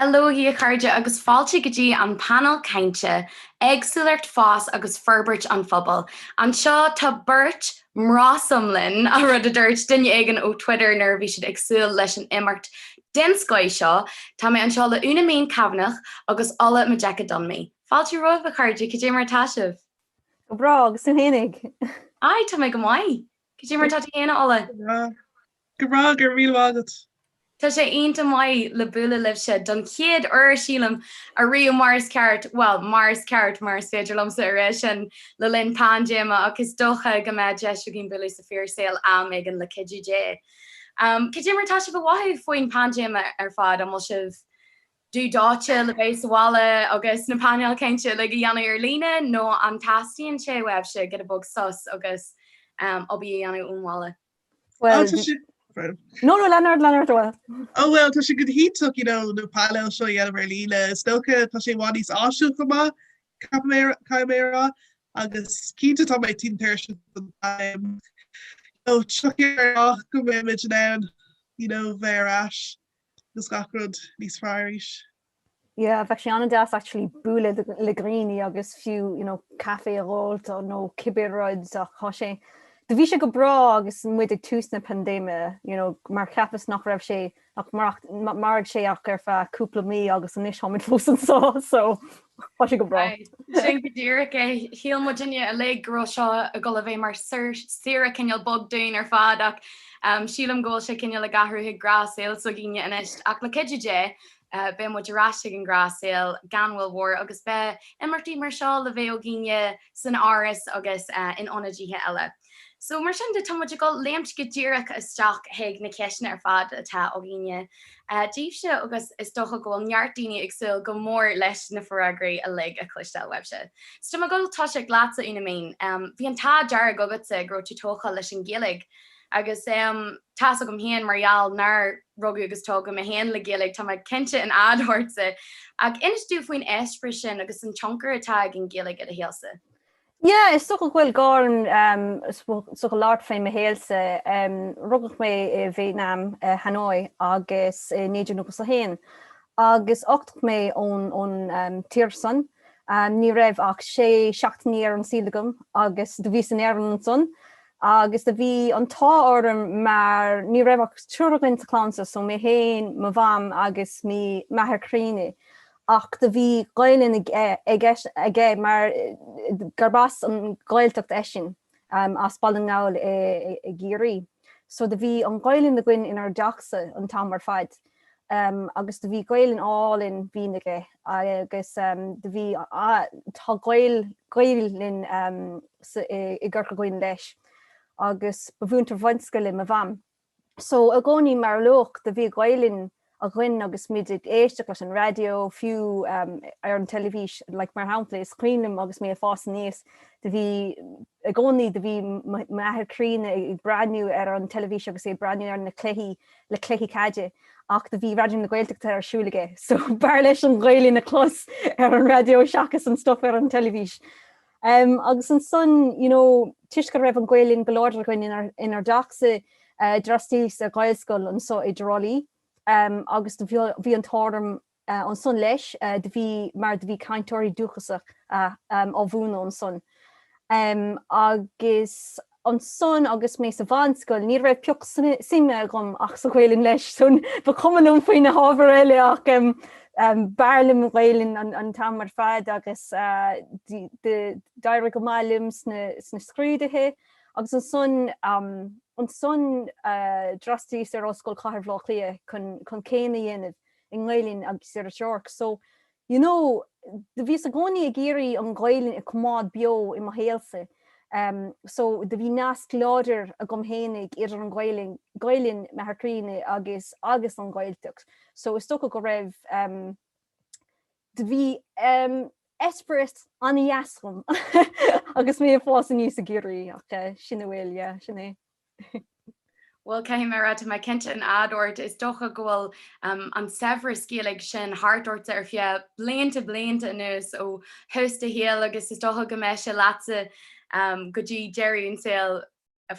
Hello hi a chairde agus fáilte go dtí an Painéal Cainte, Éagsúlacht, Fás agus Forbairt an Phobail. Anseo tá beirt mnásome linn, an rud a dúirt duine éigin ó Twitter nuair a bhí siad ag súil leis an imeacht den scoith seo. Tá mé anseo le Úna-Minh Kavanagh agus Ola Majekodunmi. Fáilte romhaibh a chairde, cad é mar atá sibh? Go breá, agus tú fhéinig? Aye, tá mé go maith. Cad é mar atá tú fhéin a Ola? Go breá, go raibh míle maith agat! Tá sé iontach maith le bualadh libhse, don chéad uair, sílim, ariamh, mar is ceart, bhuel, mar is ceart, mar is féidir liomsa a rá sin, le linn paindéime, ach is dócha go mbeidh deis againn bualadh sa fíor saol am éigin le cuidiú Dé. Cad é mar tá sibh ag mothú faoin bpaindéime ar fad? An bhfuil sibh dubh dóite le bheith sa bhaile agus na painéil cainte uilig a dhéanamh ar líne, nó an teastaíonn sé uaibhse giota beag sos agus obair a dhéanamh ón bhaile? Well, tá sé No, no, lean ort, lean ort, bhuel. Ó bhuel, tá sé go hiontach, you know, na painéil seo a dhéanamh ar líne. Is dócha tá sé i bhfad níos áisiúil chomh maith, caithfidh mé a rá, agus cinnte tá mé tinn tuirseach den am. You know, tiocfaidh ár lá go mbeimid in ann, you know, bheith ar ais agus gach rud níos fearr arís. Yeah, bheadh sé an-deas actually bualadh le dhaoine agus fiú, you know, caife a dh'fháilt nó cibé rud ach tá sé, do bhí sé go breá agus muid ag tús na paindéime, you know, mar cheapas nach raibh sé ach mairfeadh sé ach ar feadh cúpla mí agus anois táimid fós anso, so tá sé go breá. Aye, sin go díreach é. Shíl muidinne uilig go raibh seo ag dul a bheith mar saoire cineál beag dúinn ar fad ach sílim go bhfuil sé cineál ag athrú chuig gnáthshaol s'againne anois ach le cuidiú Dé beidh muid ar ais ag an ghnáthshaol gan mhoill mhór agus beidh imeachtaí mar seo le bheith againne san Áras agus in ionadaithe eile. So, mar sin de, tá muid ag dul léimt go díreach isteach chuig na ceisteanna ar fad atá againne daoibhse agus is dócha go bhfuil neart daoine ag súil go mór leis na freagraí uilig a chloisteáil uaibhse. So, tá mé ag dul toiseacht leatsa, Úna-Minh. Bhí an t-ádh dearg agatsa go raibh tú tógtha leis an Ghaeilge. Agus tá's agam féin mar gheall nár rugadh agus tógadh mé féin le Gaeilge, tá mé cinnte in éad ortsa. Ach inis domh faoin eispéireas sin agus an tionchar atá ag an Ghaeilge i do shaolsa. Yeah, is dócha go bhfuil gá ormsa labhairt fé mo shaolsa. Rugadh mé i Vítneam, i Hanoi agus i 1991 agus uchtaíodh mé ón tír san. Ní raibh ach sé seachtainí ar an saol agam agus do bhíos in Éirinn ansan. agus do bhí an t-ádh orm mar ní raibh ach triúr againn sa chlann seo, so mé féin, mo mham agus m'athair críonna, ach do bhí Gaelainn aige mar gurb as an Ghaeltacht eisean, as Baile na nGall i gCiarraí, so do bhí an Ghaelainn againn inár dteachsa an t-am ar fad. agus do bhí Gaelainn álainn bhinn aige agus do bhí, tá Gaelainn i gCorca Dhuibhne leis agus ba mhúinteoir bunscoile mo Mham. So i gcónaí mar a luadh, do bhí Gaelainn againn agus muid ag éisteacht leis an raidió, fiú ar an teilifís, like mar shampla is cuimhin liom agus mé ag fás aníos, do bhí, i gcónaí do bhí m'athair críonna ag breathnú ar an teilifís agus é ag breathnú ar na cluichí le cluichí caide ach do bhí Raidió na Gaeltachta ar siúl aige so b'fhearr leis an Ghaelainn a chlos ar an raidió seachas an stuff ar an teilifís. Agus ansan, you know, toisc go raibh an Ghaelainn go láidir againn inar dteachsa, d'fhreastalaíos Gaelscoil anso i dTrá Lí agus do bhí an t-ádh orm ansan leis do bhí mar do bhí cainteoirí dúchasacha ag múineadh ansan agus ansan agus mé sa mheánscoil ní raibh pioc suime agam ach sa Ghaelainn leis so ba chuma liom faoi na hábhair eile ach b'fhearr liom an Ghaelainn an t-am ar fad agus d'éirigh go maith liom sna scrúduithe agus ansan ansan d'fhreastalaíos ar Ollscoil Chathair Bhaile Átha Cliath chun céim a dhéanamh i nGaelainn agus Iriseoireacht. So, you know, do bhíos i gcónaí ag iarraidh an Ghaelainn a choimeád beo i mo shaolsa. Em, so, do bhí nasc láidir agam fhéinig idir an Ghaelainn, Gaelainn, m'athair críonna, agus, agus an Ghaeltacht. So, is dócha go raibh, em, do bhí, em, esprit an-dheas agam agus mé ag fás aníos ag iarraidh, ach eh, sin a bhfuil, yeah, sin é. Bhuel, caithfidh mé a rá, tá mé cinnte in éad ort, is dócha go bhfuil an saibhreas Gaeilge sin thart ortsa ar feadh blianta blianta anuas, ó thús do shaoil agus is dócha go mbeidh sé leatsa go dtí deireadh an tsaoil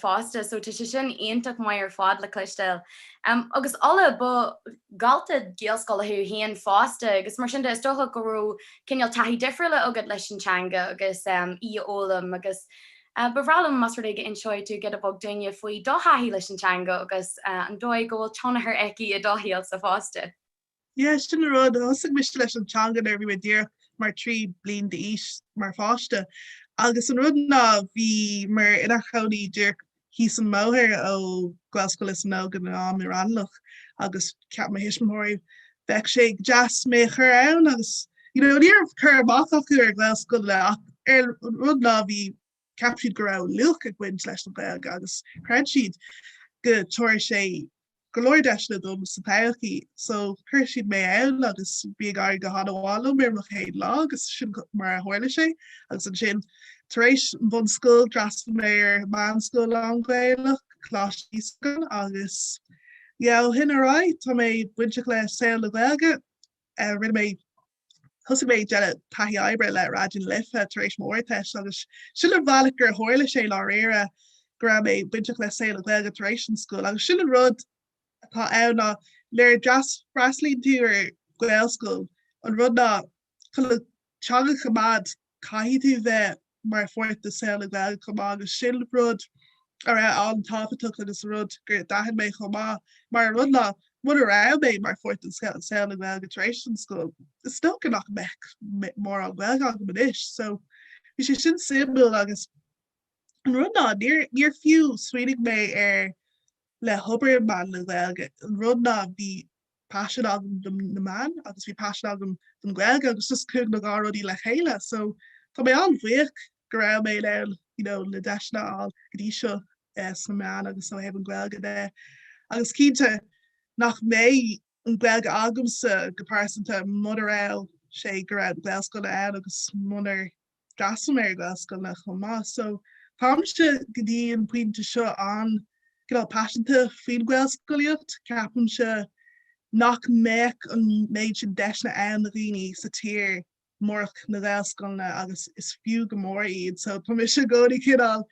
fosta, so tá sé sin iontach maith ar fad le cloisteáil. Agus Ola, ba dhalta Gaelscoile thú féin fosta agus mar sin de, is dócha go raibh cineál taithí difriúil agat leis an teanga agus í a fhoghlaim agus. Ba bhreá liom más rud é go n-inseoidh tú giota beag dúinne faoi do thaithí leis an teanga agus an dóigh go bhfuil tionchar aici i do shaolsa fosta. Yeah, sin an rud. Thosaigh mise leis an teanga nuair a bhí mé díreach mar trí bliain d'aois, mar pháiste. Agus an rud ná bhí muid inár chónaí díreach thíos an mbóthar ó Ghaelscoil Lios na nÓg i Raghnallach agus cheap mo thuismitheoirí bheadh sé go deas mé a chur ann agus you know ní raibh cur amach acu ar Ghaelscoileanna ach an rud ná bhí cheap siad go raibh luach ag baint leis an Ghaeilge agus chreid siad go dtabharfadh sé go leor deiseanna dom sa todhchaí so chuir siad mé ann agus bhí ag éirí go han-mhaith liom ar mo chéad lá agus sin mar a tharla sé agus ansin tar éis an bhunscoil d'fhreastail mé ar meánscoil lán-Ghaelach, Coláiste Íosagáin agus Ó shin ar aghaidh, tá mé bainteach le saol na Gaeilge. Rinne mé. thosaigh mé ag déanamh taithí oibre le Raidió na Life tar éis m'Ardteist agus sin an bhealach gur tharla sé i ndáiríre go raibh mé bainteach le saol na Gaeilge tar éis an scoil agus sin an rud atá ann ná nuair a freastalaíonn tú ar Ghaelscoil, an rud ná chun an teanga a choimeád caithfidh tú bheith mar pháirt de saol na Gaeilge chomh maith agus sin rud a raibh an-tábhachtach agus rud gur d'aithin mé chomh maith mar an rud ná muna raibh mé mar pháirt den saol na Gaeilge tar éis an scoil is dócha nach mbeadh mórán Gaeilge agam anois so bhí sé sin suimiúil agus an rud ná níor, níor fiú smaoinigh mé ar le hobair meán na Gaeilge an rud ná bhí paisean agam do na meáin agus bhí paisean agam don Gaeilge agus just chuaigh na dhá rudaí le chéile so tá mé an-bhuíoch go raibh mé in ann you know, na deiseanna a fháil go dtí seo eh, sna meáin agus ó thaobh an Gaeilge de. Agus cinnte nach mbeidh an Gaeilge agamsa go pearsanta muna raibh sé go raibh na Gaelscoileanna ann agus munar d'fhreastail mé ar Gaelscoileanna chomh maith so táimse go dtí an pointe seo an-cineál paiseanta faoin Ghaelscolaíocht. Ceapaimse nach mbeadh an méid sin deiseanna ann do dhaoine sa tír murach na Gaelscoileanna agus is fiú go mór iad so tá mise i gcónaí cineál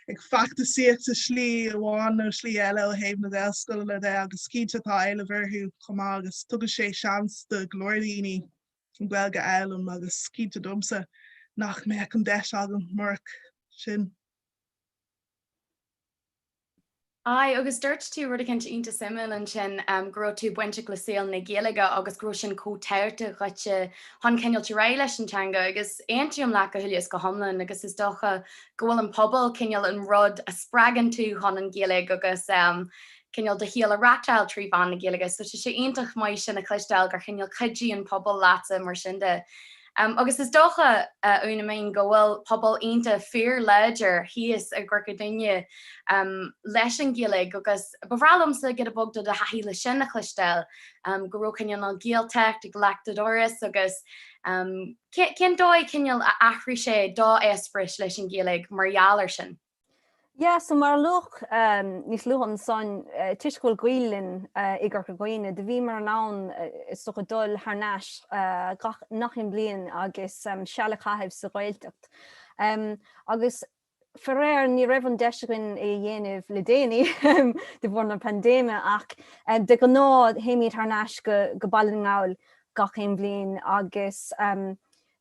ag feachtasaíocht sa slí amháin nó slí eile ó thaobh na Gaelscoileanna de agus cinnte tá éileamh orthu chomh maith agus tugann sé seans do go leor daoine Gaeilge a fhoghlaim agus is cinnte domsa nach mbeadh an deis agam murach sin. Aye, agus dúirt tú rud eicínt iontach suimiúil ansin, go raibh tú bainteach le saol na Gaeilge agus go raibh sin chomh tábhachtach dhuitse chun cineál dul ar aghaidh leis an teanga agus aontaím leat go huile is go hiomlán agus is dócha go bhfuil an pobal cineál an rud a spreagann tú chun an Gaeilge agus eh, cineál do shaol a reachtáil trí mheán na Gaeilge. So tá sé iontach maith sin a chloisteáil gur chineál cuidigh an pobal leatsa mar sin de. Agus is dócha, a Úna-Minh, go bhfuil pobal iontach fíorláidir thíos i gCorca Dhuibhne leis an Ghaeilge agus ba bhreá liomsa giota beag de do thaithí leis sin a chloisteáil, go raibh cineál an Ghaeltacht ag leac do dhoras agus cén dóigh, cineál, a athraigh sé do eispéireas leis an Ghaeilge mar gheall air sin. Yes, so mar a luadh níos luaithe ansan, toisc go bhfuil gaol linn i gCorca Dhuibhne, do bhíomar in ann is dócha dul thar n-ais nach aon bhliain agus seal a chaitheamh sa Ghaeltacht. Agus faraor ní raibh an deis againn é a dhéanamh le déanaí de bharr na paindéime ach de ghnáth théimid thar n-ais go Baile na nGall gach aon bhliain agus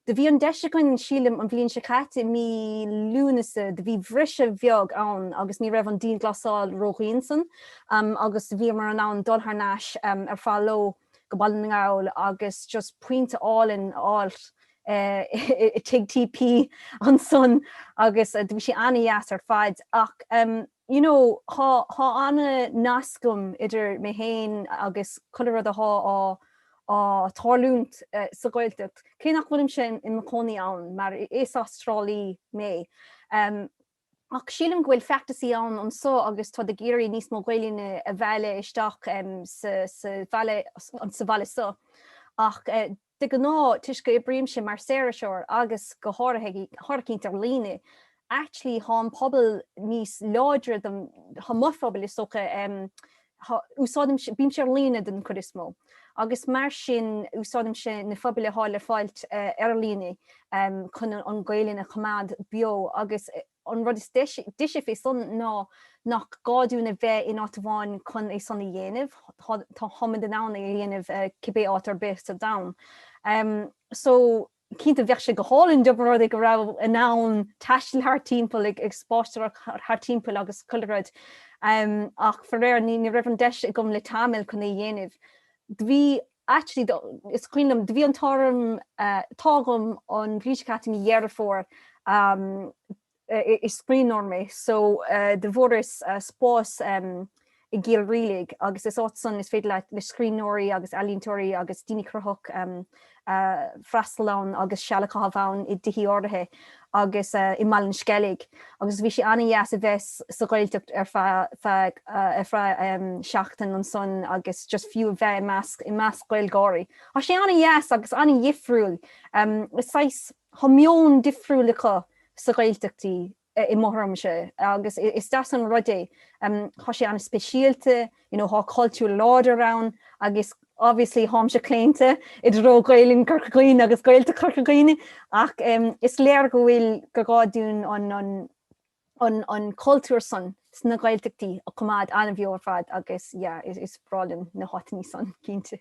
Do bhí an deis againn, sílim, an bhliain seo caite, i mí Lúnasa, do bhí briseadh beag ann agus ní raibh an dianghlasáil ródhian ansan agus bhíomar in ann dul thar n-ais ar feadh ló go Baile na nGall agus just pionta álainn a fháil i Tigh TP ansan agus do bhí sé ana-dheas ar fad ach you know thá ana-nasc agam idir mé féin agus chuile rud athá athá ag tarlúint sa Ghaeltacht, cé nach bhfuilimse im chónaí ann, mar is Astrálaí mé. Ach sílim go bhfuil feachtasaí anso agus táid ag iarraidh níos mó Gaoluinne a mhealladh isteach sa bhaile so. Ach de ghnáth, toisc go n-oibrímse mar saoririseoir, agus go háirithint ar líne Actually thá an pobal níos láidre dom, thá mo phobal is dócha, thá, úsáidim, bímse ar líne den chuid is mó agus mar sin úsáidimse na pobail a thá le fáilt ar líne chun an Gaolainn a choimeád beo agus an rud is deise fé san ná nach gá dúinn a bheith in áit amháin chun é san a dhéanamh, tá, tháimid in ann é a dhéanamh cibé áit arb í sa domhan. So. Cinnte, bheadh sé go hálainn dá mba rud é go rabhas in ann taisteal thart timpeall, ag spáisteoireacht thart timpeall agus chuile rud, ach faraor, ní raibh an deis agam le tamall chun é a dhéanamh. Do bhí, actually, do, is cuimhin liom, do bhí an t-ádh, t-ádh agam an bhliain seo caite i mí Dheireadh Fómhair, is scríbhneoir mé so do bhfuaireas spás i gCill Rialaigh agus is áit san is féidir le, le scríbhneoirí agus ealaíontóirí agus daoine cruthach freastal ann agus seal a chaitheamh ann i dtithí áirithe agus i mBaile an Sceilg agus bhí sé ana-dheas a bheith sa Ghaeltacht ar feadh seachtain ansan agus just fiú a bheith i measc Gaeilgeoirí. Tá sé ana-dheas agus ana-dhifriúil. Is saghas. Thá meon difriúil acu sa Ghaeltachtaí im thuairimse, agus is deas an rud é. Thá sé an-speisialta, you know, thá cultúr láidir ann agus obviously tháimse claonta i dtreo Gaelainn Chorca Dhuibhne agus Gaeltacht Chorca Dhuibhne ach is léir go bhfuil, gur gá dúinn an, an, an cultúr san sna Gaeltachtaí a choimeád an-bheo ar fad agus yeah is breá liom na háiteannaí san, cinnte.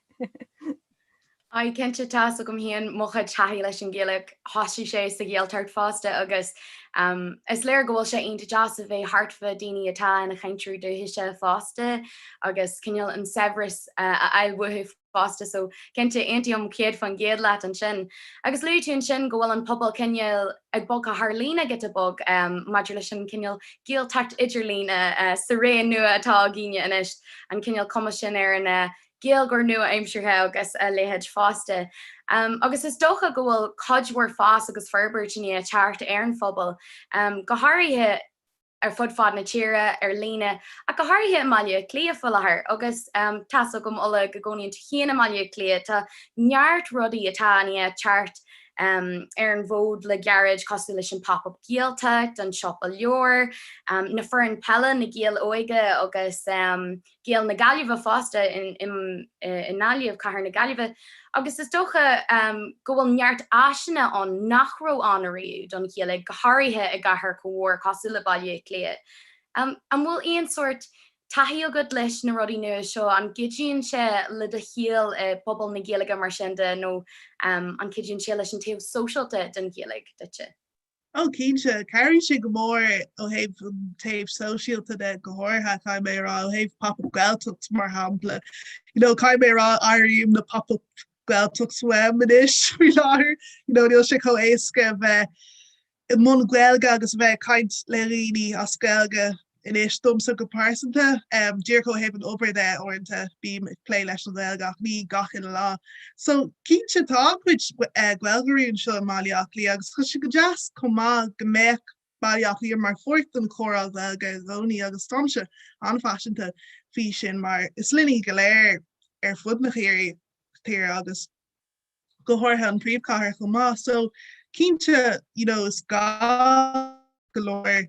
Aidhe cinnte, tá's agam féin mo chuid taithí leis an Ghaeilge, thosaigh sé sa Ghaeltacht fosta agus ehm is léir go bhfuil sé iontach deas a bheith thart fá daoine atá ina chainteoirí dúchaise fosta agus cineál an saibhreas a fháil uathu. fosta so cinnte aontaím céad faoin gcéad leat ansin. Agus luaigh tú ansin go bhfuil an pobal cineál ag bogadh thar líne giota beag maidir leis an chineál Gaeltacht idirlíne sa ré nua atá againne anois, an cineál cumas sin An Gaeilgeoir nua-aimseartha agus a leithéid fosta. Agus is dócha go bhfuil cuid mhór fás agus forbairt i ndiaidh teacht ar an phobal, go háirithe, ar fud fad na tíre, ar líne, ach go háirithe i mBaile Átha Cliath faoi láthair. Agus tá's agam, Ola, go gcónaíonn tú féin i mBaile Átha Cliath, tá neart rudaí atá i ndiaidh teacht ar an bhfód le gairid, cosúil leis an Pop Up Gaeltacht, an Siopa Leabhar, na foireann peile, Na Gaeil Óga agus. Gaeil na Gaillimhe fosta i nGaillimh, cathair na Gaillimhe, agus is dócha go bhfuil neart áiseanna ann nach raibh ann ariamh don Ghaeilge, go háirithe i gcathair chomh mór cosúil le Baile Átha Cliath. An bhfuil aon sórt taithí agat leis na rudaí nua seo? An gcuidíonn sé le do shaol i bpobal na Gaeilge mar sin de nó an gcuidíonn sé leis an taobh sóisialta den Ghaeilge duitse? Ó, cinnte. Cabhraíonn sé go mór ó thaobh an taobh sóisialta de go háirithe, caithfidh mé a rá, ó thaobh Pop Up Gaeltacht mar shampla. You know, caithfidh mé a rá, airím na Pop Up Gaeltacht uaim anois faoi láthair. You know, níl sé chomh éasca a bheith i mbun Gaeilge agus a bheith ag caint le dhaoine as Gaeilge Anois, domsa go pearsanta, díreach ó thaobh an obair de, uaireanta bím ag plé leis an nGaeilge ach ní gach uile lá. So, cinnte, tá an-chuid Gaeilgeoirí anseo i mBaile Átha Cliath agus tá sé go deas chomh maith go mbeadh Baile Átha Cliath mar pháirt den chomhrá Gaeilge i gcónaí agus táimse an-phaiseanta faoi sin mar is linne go léir ar fud na tíre í agus go háirithe an príomhchathair chomh maith so cinnte you know is gá go leor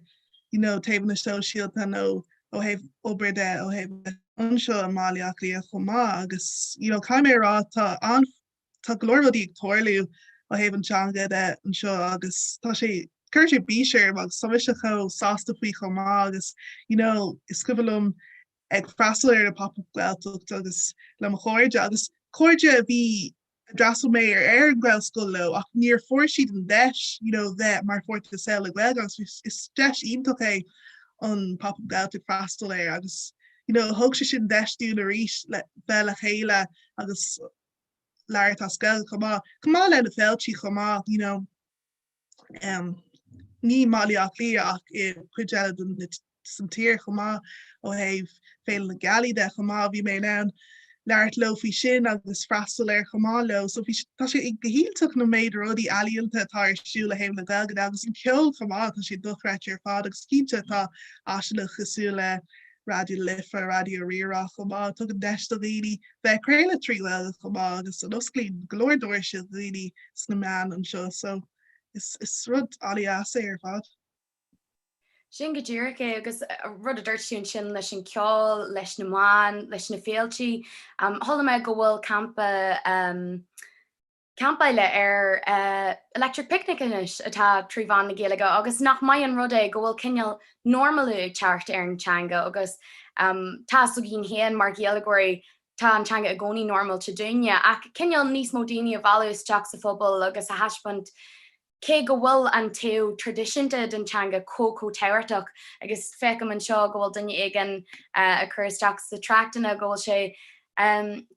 you know taobhanna sóisialta nó ó thaobh obair de ó thaobh eile anseo i mBaile Átha Cliath chomh maith agus you know caithfidh mé a rá tá tá go leor rudaí ag tarlú ó thaobh an teanga de anseo agus tá sé cuireann sé bís orm agus tá mise chomh sásta faoi chomh maith agus you know is cuimhin liom ag freastal ar na Pop Up Gaeltacht agus le mo chairde, agus cairde a bhí, a d'fhreastail mé ar ar an Ghaelscoil leo ach níor fuair siad an deis you know bheith mar pháirt de shaol le Gaeilge agus is deis iontach é an Pop Up Gaeltacht freastal air agus you know thug sé sin deis dúinn arís le bheith le chéile agus labhairt as Gaeilge chomh maith, chomh maith le na féiltí chomh maith you know. i mBaile Átha Cliath ach i gcuid eile den tír chomh maith ó thaobh Féile na Gealaí de chomh maith. Bhí mé in ann labhairt leo faoi sin agus freastal air chomh maith leo. So bhí, tá sé go hiontach an méid rudaí ealaíonta atá ar siúl ó thaobh na Gaeilge de agus an ceol chomh maith, tá sé dochreidte ar fad agus cinnte tá áiseanna cosúil le Raidió na Life, Raidió Rí-Rá chomh maith, tugann deis do dhaoine bheith ag craoladh trí Ghaeilge chomh maith agus osclaíonn go leor doirse do dhaoine sna meáin anseo so is rud an-deas é ar fad. Sin go díreach é agus rud a dúirt tú ansin leis an ceol, leis na meáin, leis na féilte, chuala mé go bhfuil campa, campáil ar Electric Picnic anois atá trí mheán na Gaeilge agus nach maith an rud é go bhfuil cineál normalú ag teacht ar an teanga agus tá's againn féin mar Ghaeilgeoirí tá an teanga i gcónaí normálta dúinne ach cineál níos mó daoine a mhealladh isteach sa phobal agus a thaispeáint Cé go bhfuil an taobh traidisiúnta den teanga chomh chomh tábhachtach, agus feicim anseo go bhfuil duine éigin ag cur isteach sna tráchtanna go bhfuil sé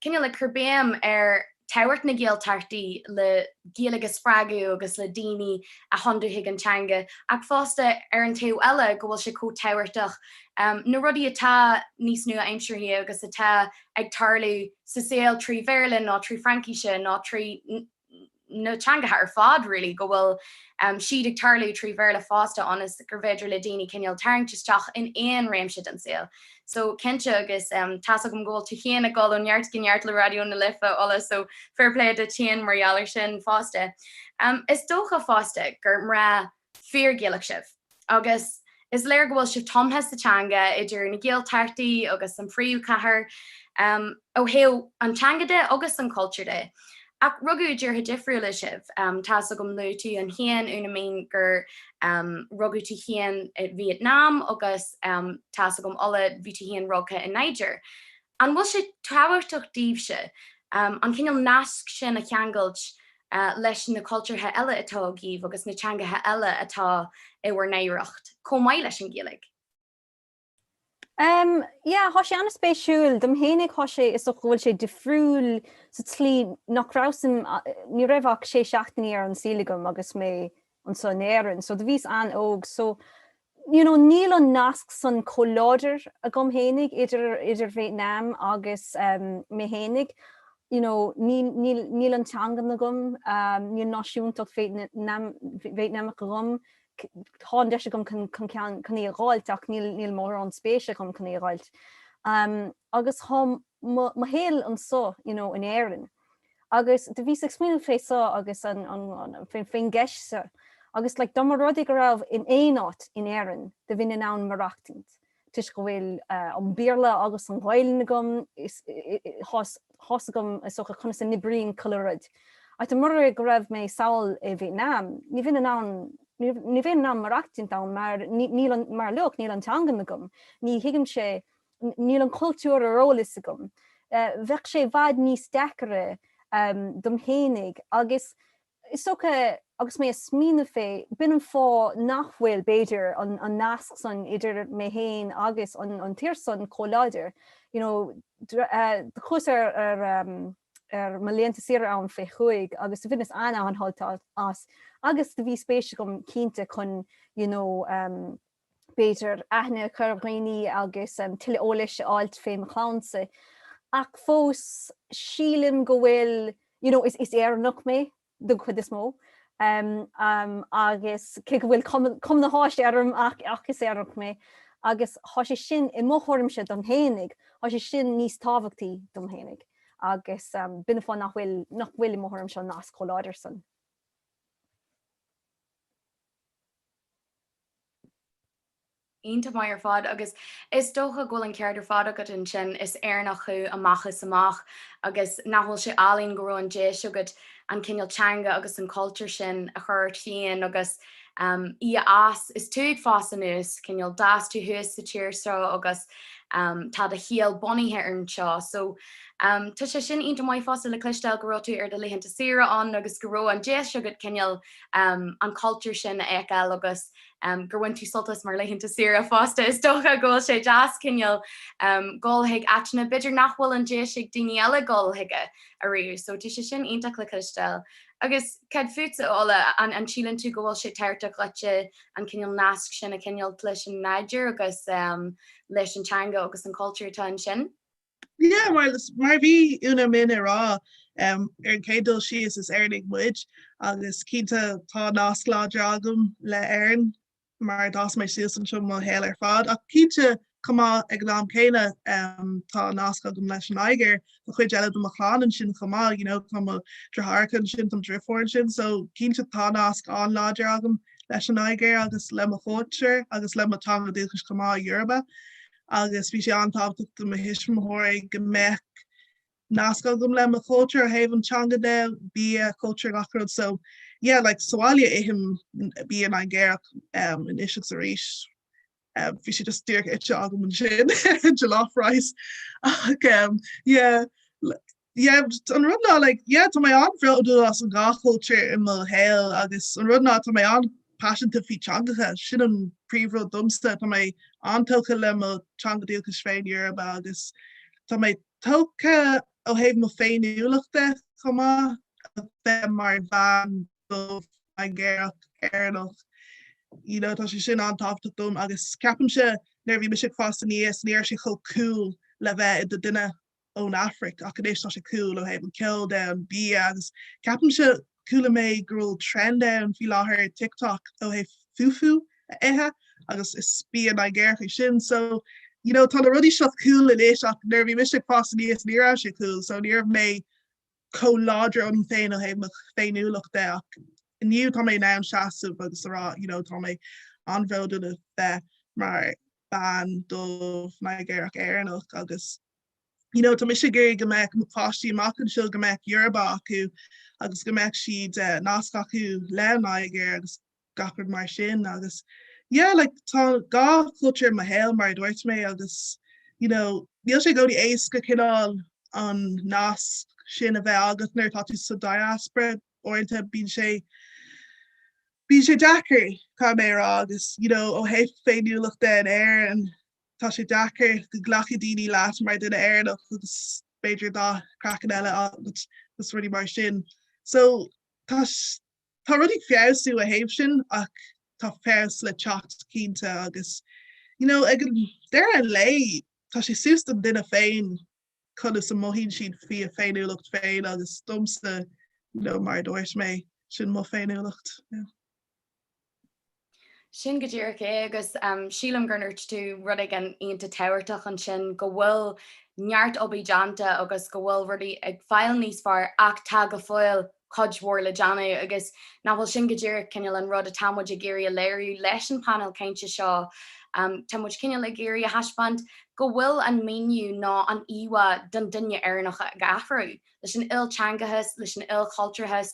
cineál ag cur béim ar tábhacht na Gaeltachtaí le Gaeilge a spreagadh agus le daoine a thiontú chuig an teanga, ach fosta ar an taobh eile go bhfuil sé chomh tábhachtach na rudaí atá níos nua-aimseartha agus atá ag tarlú sa saol trí Bhéarla nó trí Fraincis nó trí. na teangacha ar fad really, go bhfuil siad ag tarlú trí Bhéarla fosta ionas gurbh fhéidir le daoine cineál tarraingt isteach in aon réimse den saol. So, cinnte agus tá's agam go bhfuil tú féin ag dul ó neart go neart le Raidió na Life, Ola, so fair play duit féin mar gheall ar sin fosta. Is dócha fosta gur mná. fíor-Ghaelach sibh, agus is léir go bhfuil sibh tumtha sa teanga, idir na Gaeltachtaí agus an phríomhchathair, ó thaobh an teanga de agus an cultúr de. Ach rugadh i dtíortha difriúla sibh. Tá's agam luaigh tú féin, Úna-Minh, gur rugadh tú féin i Vietnam, agus tá's agam Ola, bhí tú féin rugtha i Nigéir. An bhfuil sé tábhachtach daoibhse an cineál nasc sin a cheangailt leis na cultúrtha eile atá agaibh agus na teangacha eile atá i bhur n-oidhreacht, chomh maith leis an Ghaeilge? Em, yeah, thá sé an-spéisiúil. Dom fhéinig thá sé, is dócha go bhfuil sé difriúil sa tslí nach rabhas in, ní raibh ach sé seachtainí ar an saol agam agus mé anseo in Éirinn, so do bhíos an-óg so you know níl an nasc san chomh láidir agam fhéinig idir idir Vietnam agus ehm mé fhéinig you know níl níl níl an teangan agam ehm níl náisiúntacht Vietnam Vietnamach agam tá an deis agam chun ceann chun í a dh'fháilt ach níl níl mórán spéise agam chun í a dh'fháilt ehm agus tá mo mo shaol anseo you know in Éirinn. agus do bhíos ag smaoineamh fé so agus an, fén gceist so agus like dá mba rud é go raibh, in aon áit in Éirinn do bheinn in ann maireachtaint toisc go bhfuil an Béarla agus an Ghaelainn agam, thá's agam is dócha conas a n-oibríonn chuile rud ach do mura go raibh mé sall i Vietnam ní bheinn ann, ní bheinn in ann maireachtaint ann mar like níl an teanga agam, ní thuigimse. Níl an cultúr ar eolas agam. Bheadh sé i bhfad níos deacaire dom fhéinig agus is dócha, agus mé a' smaoineamh fé, b'in an fáth nach bhfuil, b'fhéidir, an nasc san idir mé fhéin agus an tír san chomh láidir. You know, chuas ar mo laethanta saoire ann fé chúig agus do bhaineas an-an-shult as agus do bhí spéis agam cinnte chun, you know, b'fhéidir, aithne a chur ar dhaoine agus tuilleadh eolais a fháil fé mo chlannsa. Ach fós, sílim go bhfuil, you know, is Éireannach mé, don chuid is mó, agus cé go bhfuil cuma na hÁise orm, ach is Éireannach mé, agus thá sé sin, i mo thuairimse dom fhéinig, thá sé sin níos tábhachtaí dom fhéinig, agus b'in é fáth nach bhfuil, nach bhfuil, i mo thuairimse, an nasc chomh láidir san. iontach maith ar fad agus is dócha go bhfuil an ceart ar fad agat ansin, is Éireannach thú amach is amach agus nach bhfuil sé álainn go raibh an deis agat an cineál teanga agus an cultúr sin a chur ort féin agus í a fhás is tú ag fás anuas, cineál d'fhás tú thuas sa tír seo agus tá do shaol bunaithe anseo so tá sé sin iontach maith fosta le cloisteáil go raibh tú ar do laethanta saoire ann agus go raibh an deis agat cineál an cultúr sin a fheiceáil agus gur bhain tú sult as mar laethanta saoire fosta. Is dócha go bhfuil sé deas cineál dhul chuig áiteanna b'fhéidir nach bhfuil an deis ag daoine eile dhul chuige ariamh so tá sé sin iontach le cloisteáil. Agus cad fútsa a Ola, an síleann tú go bhfuil sé tábhachtach duitse an cineál nasc sin a choinneáil leis an Nigéir agus leis an teanga agus an cultúr atá ansin? Yeah, mar a bhí Úna Minh ag rá, ar an chéad dul síos is Éireannaigh muid agus cinnte tá nasc láidir agam le hÉirinn mar a d'fhás mé suas anseo mo shaol ar fad ach cinnte chomh maith ag an am céanna tá nasc agam leis an Nigéir, tá cuid eile de mo chlann ansin chomh maith, you know, tá mo deartháireacha ansin, tá mo deirfiúr ansin so cinnte tá nasc an-láidir agam leis an Nigéir agus le mo chultúr agus le mo teanga dúchais chomh maith, Yoruba. agus bhí sé an-tábhachtach do mo thuismitheoirí go mbeadh nasc agam le mo chultúr ó thaobh an teanga de, bia, cultúr gach rud so yeah like sa bhaile ithim bia Nigéarach anois agus arís. Um, bhí sé just díreach ite agam ansin jollof rice ach um, yeah, yeah an rud ná like yeah tá mé an-bhródúil as an dhá chultúr i mo shaol agus an rud ná tá mé an-paiseanta faoi teangacha. Sin an príomhrud domsa, tá mé an-tógtha le mo teanga dhúchais féin, Yoruba, agus tá mé tógtha ó thaobh mo féiniúlachta chomh maith a bheith mar bhean dubh Nigéarach Éireannach. You know tá sé sin an-tábhachtach dom agus ceapaimse nuair a bhí mise ag fás aníos ní raibh sé chomh cool le bheith i do duine ón Afraic ach anois tá sé cool ó thaobh an ceol de, an bia agus ceapaimse, chuala mé go bhfuil trend ann faoi láthair ar TikTok ó thaobh fufu a ithe agus is bia Nigéarach é sin so you know tá na rudaí seo cool anois ach nuair a bhí mise ag fás aníos ní raibh sé cool so ní raibh mé chomh láidir ionam féin ó thaobh mo féiniúlacht de ach inniu tá mé in ann seasamh agus a rá you know tá mé an-bhródúil a bheith mar bean dubh Nigéarach Éireannach agus You know, tá mise ag iarraidh go mbeadh na páistí amach anseo, go mbeadh Yorùbá acu agus go mbeadh siad nasc acu leis an Nigéir agus gach rud mar sin agus yeah, like tá dhá chultúr i mo shaol mar a dúirt mé agus you know, níl sé i gcónaí éasca cineál an nasc sin a bheith agat nuair atá tú sa diaspora, uaireanta bíonn sé, bíonn sé deacair, caithfidh mé a rá, agus you know, ó thaobh féiniúlachta in Éirinn, Tá sé deacair go nglacfaidh daoine leat mar dhuine Éireannach agus b'fhéidir dath craicinn eile agat agus rudaí mar sin. So, tá, tá rudaí ag feabhsú ó thaobh sin ach tá feabhas le teacht cinnte agus, you know, ag an deireadh an lae, tá sé suas don duine féin. conas a mothaíonn siad faoi a féiniúlacht féin agus domsa, you know, mar a dúirt mé, sin mo féiniúlacht. Sin go díreach é agus sílim gur dhúirt tú rud éigin iontach tábhachtach ansin, go bhfuil neart oibre déanta agus go bhfuil rudaí ag fáil níos fearr ach tá go fóill, cuid mhór le déanamh agus nach bhfuil sin go díreach cineál an rud atá muid ag iarraidh a léiriú leis an bpainéal cainte seo. Tá muid cineál ag iarraidh a thaispeáint go bhfuil an míniú nó an íomhá den duine Éireannach ag athrú, leis an ilteangachas, leis an ilchultúrachas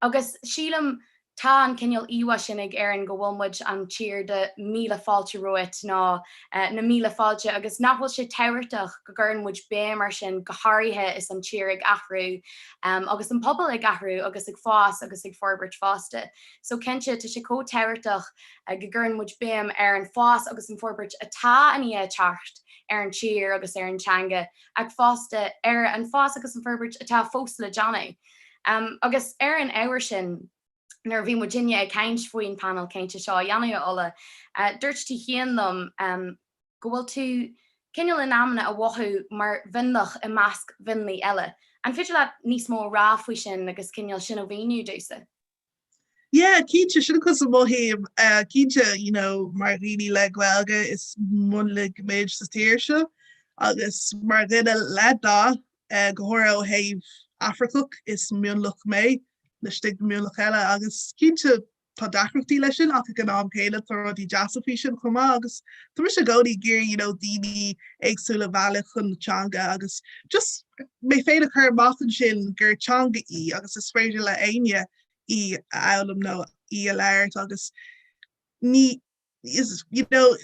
agus sílim Tá an cineál íomhá sin ag Éirinn, go bhfuil muid an tír de míle fáilte romhat, nó na míle fáilte, agus nach bhfuil sé tábhachtach go gcuireann muid béim ar sin, go háirithe is an tír ag athrú, agus an pobal ag athrú, agus ag fás agus ag forbairt fosta. So cinnte, tá sé chomh tábhachtach go gcuireann muid béim ar an fás agus an fhorbairt atá i ndiaidh teacht ar an tír agus ar an teanga, ach fosta ar an fás agus an fhorbairt atá fós le déanamh. Agus ar an ábhar sin, nuair a bhí muid inne ag caint faoin panel cainte seo a dhéanamh a Ola, dúirt tú cheana liom go bhfuil tú cineál in amanna ag mothú mar mhionlach i measc mhionlaigh eile. An féidir leat níos mó a rá faoi sin agus cineál sin a mhíniú domsa? Yeah cinnte sin conas a mothaím cinnte you know mar dhaoine le Gaeilge is mionlaigh muid sa tír seo agus mar dhuine le dath go háirithe ó thaobh Afracach is mionlach mé laistigh de mhionlach eile agus cinnte tá deacrachtaí leis sin ach ag an am céanna tá rudaí deasa faoi sin chomh maith agus tá mise i gcónaí ag iarraidh you know daoine éagsúla a mhealladh chun na teanga agus just mé féin a chur amach ansin gur teanga í agus is féidir le éinne í a fhoghlaim nó í a labhairt agus ní is you know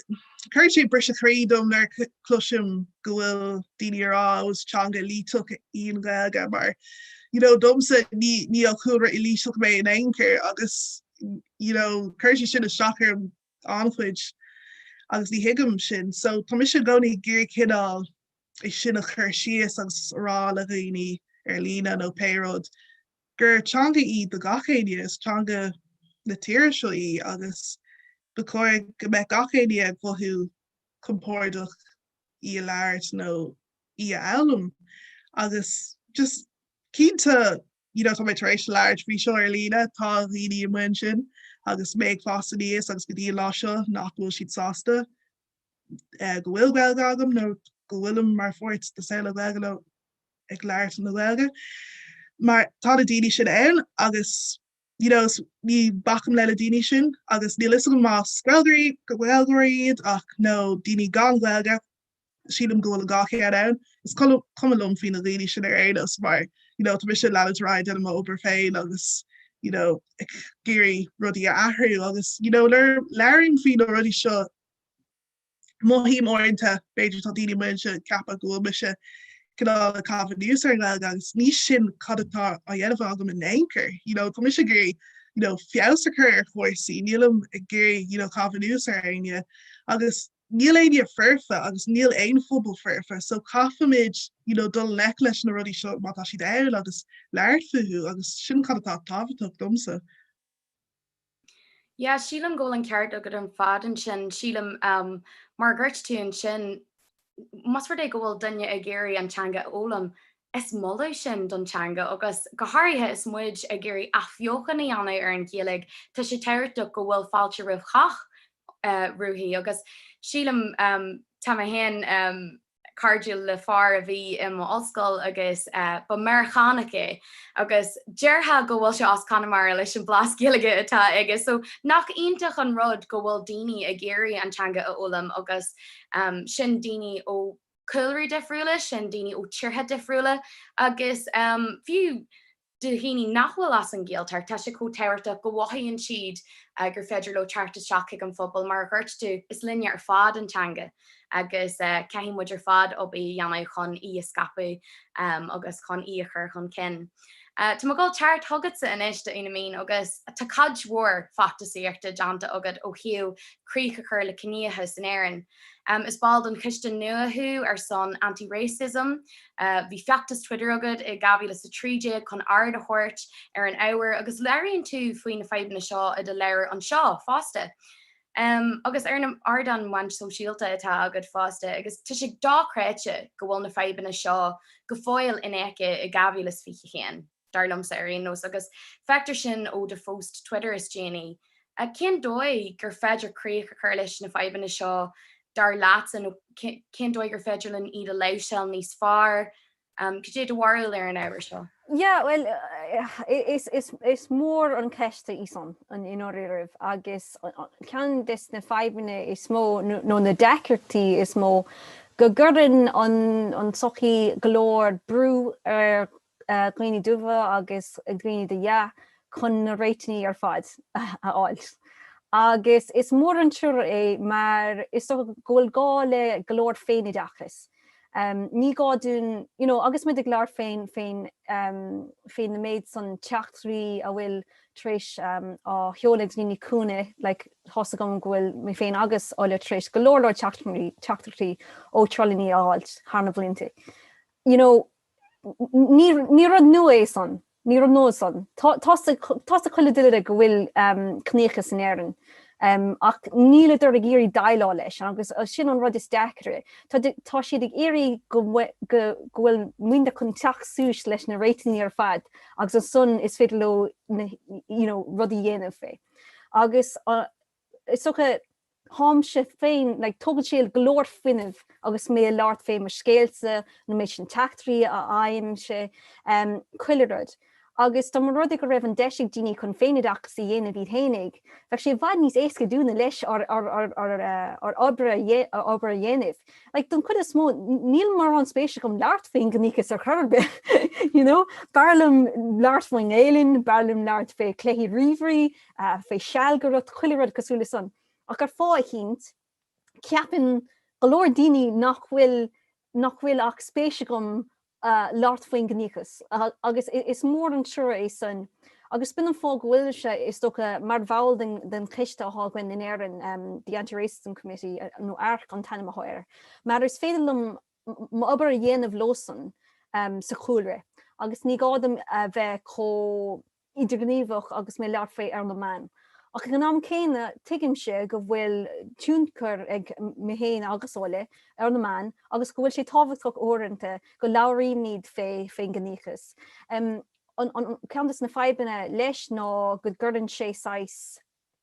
cuireann sé briseadh croí dom nuair a cloisim go bhfuil daoine ag rá ó is teanga éilíteach í an Ghaeilge mar you know domsa ní ní ó chúlra éilíteach mé in aon chor agus you know cuireann sé sin isteach orm an-chuid agus ní thuigim sin so tá mise i gcónaí ag iarraidh cineál é sin a chur síos agus a rá le dhaoine ar líne nó pé rud, gur teanga í do gach éinne, is teanga na tíre seo í agus ba chóir go mbeadh gach éinne ag mothú compordach í a labhairt nó í a fhoghlaim agus just cinnte you know tá mé tar éis labhairt faoi seo ar líne, tá dhaoine amuigh ansin agus mé ag fás aníos agus go dtí an lá seo nach bhfuil siad sásta go bhfuil Gaeilge agam nó go bhfuilim mar pháirt de saol na Gaeilge nó ag labhairt na Gaeilge mar tá na daoine sin ann agus you know is ní bacaim leis na daoine sin agus níl a fhios agam más Gaeilgeoirí go Gaeilgeoirí iad ach nó daoine gan Ghaeilge sílim go bhfuil an dhá cheann ann. Is cuma liom faoi na daoine sin ar aon nós mar you know tá mise ag leanúint ar aghaidh déanamh m'obair féin agus you know ag iarraidh rudaí a athrú agus you know nuair a labhraím faoi na rudaí seo Mothaím uaireanta, b'fhéidir, tá daoine amuigh anseo ag ceapadh go bhfuil mise cineál ag caitheamh anuas ar an nGaeilge agus ní sin cad atá á dhéanamh agam in aon chor. You know, tá mise ag iarraidh, you know, feabhas a chur ar chúrsaí, nílim ag iarraidh, you know, caitheamh anuas ar éinne agus níl éinne foirfe agus níl aon phobal foirfe so caithfimid, you know, dul i ngleic leis na rudaí seo má tá siad ann agus labhairt fúthu agus sin cad atá tábhachtach domsa. Yeah, sílim go bhfuil an ceart agat ar fad ansin, sílim um mar a dúirt tú ansin, más rud é go bhfuil duine ag iarraidh an teanga a fhoghlaim, is moladh sin don teanga agus go háirithe is muid ag iarraidh athbheochan a dhéanamh ar an Ghaeilge, tá sé tábhachtach go bhfuil fáilte roimh chách uirthi agus sílim um tá mé féin um. cairdiúil le fear a bhí i mo ollscoil agus ba Meiriceánach é agus déarfá go bhfuil sé as Conamara leis an blas Gaeilge atá aige so nach iontach an rud go bhfuil daoine ag iarraidh an teanga a fhoghlaim agus sin daoine ó chúlraí difriúla, sin daoine ó tíortha difriúla agus fiú. Do dhaoine nach bhfuil as an Ghaeltacht, tá sé chomh tábhachtach go mhothaíonn siad gur féidir leo teacht isteach chuig an phobal. Mar a dúirt tú, is linne ar fad an teanga agus caithfidh muid ar fad obair a dhéanamh chun í a scaipeadh agus chun í a chur chun cinn. Tá mé ag gabháil thart chugatsa anois, a Úna-Minh, agus tá cuid mhór feachtasaíochta déanta agat ó thaobh críoch a chur le ciníochas in Éirinn. Is ball den choiste nua thú ar son Anti Racism. Bhí feachtas Twitter agat i 2013 chun aird a thabhairt ar an ábhar agus labhraíonn tú faoi na fadhbanna seo i do leabhar anseo fosta. Agus ar na ardáin meán sóisialta atá agat fosta agus tá sé dochreidte go bhfuil na fadhbanna seo go fóill infheicthe i 2021. dar liomsa ar aon nós, agus feictear sin ó do phost Twitter is déanaí. Cén dóigh gur féidir críoch a chur leis na fadhbanna seo dar leatsa, nó cén dóigh gur féidir linn iad a láimhseáil níos fearr? Cad é do bharúil ar an ábhar seo? Yeah, bhuel, is mór an cheist í san, i ndáiríribh, agus ceann des na fadhbanna is mó, nó na deacrachtaí is mó, go gcuireann an tsochaí go leor brú ar dhaoine dubha agus dhaoine de dhath, chun na réitigh ar fad a fháilt. Agus is mór an trua é mar is dócha go bhfuil gá le go leor féinoideachais. Ní gá dúinn, you know, agus muid ag labhairt fén fén fén méid san teachtaireachtaí a bhfuil tar éis á sheoladh ag daoine chúinne, like tá's agam go bhfuil mé féin agus Ola tar éis go leor leor teachtaireachtaí ó trollanna a fháilt thar na blianta, you know, Ní rud nua é san. Ní rud nua san. Tá's ag chuile duine go bhfuil ciníochas in Éirinn, ach níl siad ag iarraidh déileáil leis, agus sin an rud is deacaire. Tá siad ag iarraidh go bhfuil muidne chun teacht suas leis na réitigh ar fad agus ansan is féidir leo, you know, rudaí dhéanamh fé. Agus. is dócha, táimse féin, like tógann sé go leor fuinnimh agus mé a labhairt fé mo scéalta nó méid sin teachtaireachtaí a fhaighimse em chuile rud agus dá mba rud é go raibh an deis ag daoine chun féinoideachas a dhéanamh iad fhéinig, bheadh sé i bhfad níos éasca dúinne leis ár obair a dhéanamh. Like don chuid is mó níl mórán spéis agam labhairt fén gciníochas ar chor bith you know b'fhearr liom labhairt faoin nGaelainn, b'fhearr liom labhairt fé cluichí ríomhairí, faoi seal go raibh chuile rud cosúil le san, ach ar fáth éicint, ceapann go leor daoine nach bhfuil, nach bhfuil ach spéis agam labhairt faoin gciníochas, agus is mór an trua é san, agus b'in an fáth go bhfuilimse, is dócha, mar bhall den, den choiste athá againn in Éirinn, the Anti-Racism Committee, nó arc an t-ainm athá air, mar is féidir liom m'obair a dhéanamh leosan sa chúlra, agus ní gá dom a bheith chomh. idirghníomhach agus mé ag labhairt faoi ar na meáin. Ach ag an am céanna, tuigimse go bhfuil tionchar ag mé féin agus Ola ar na meáin agus go bhfuil sé tábhachtach uaireanta go labhraímid faoin gciníochas. Ceann de na fadhbanna leis ná go gcuireann sé saghas.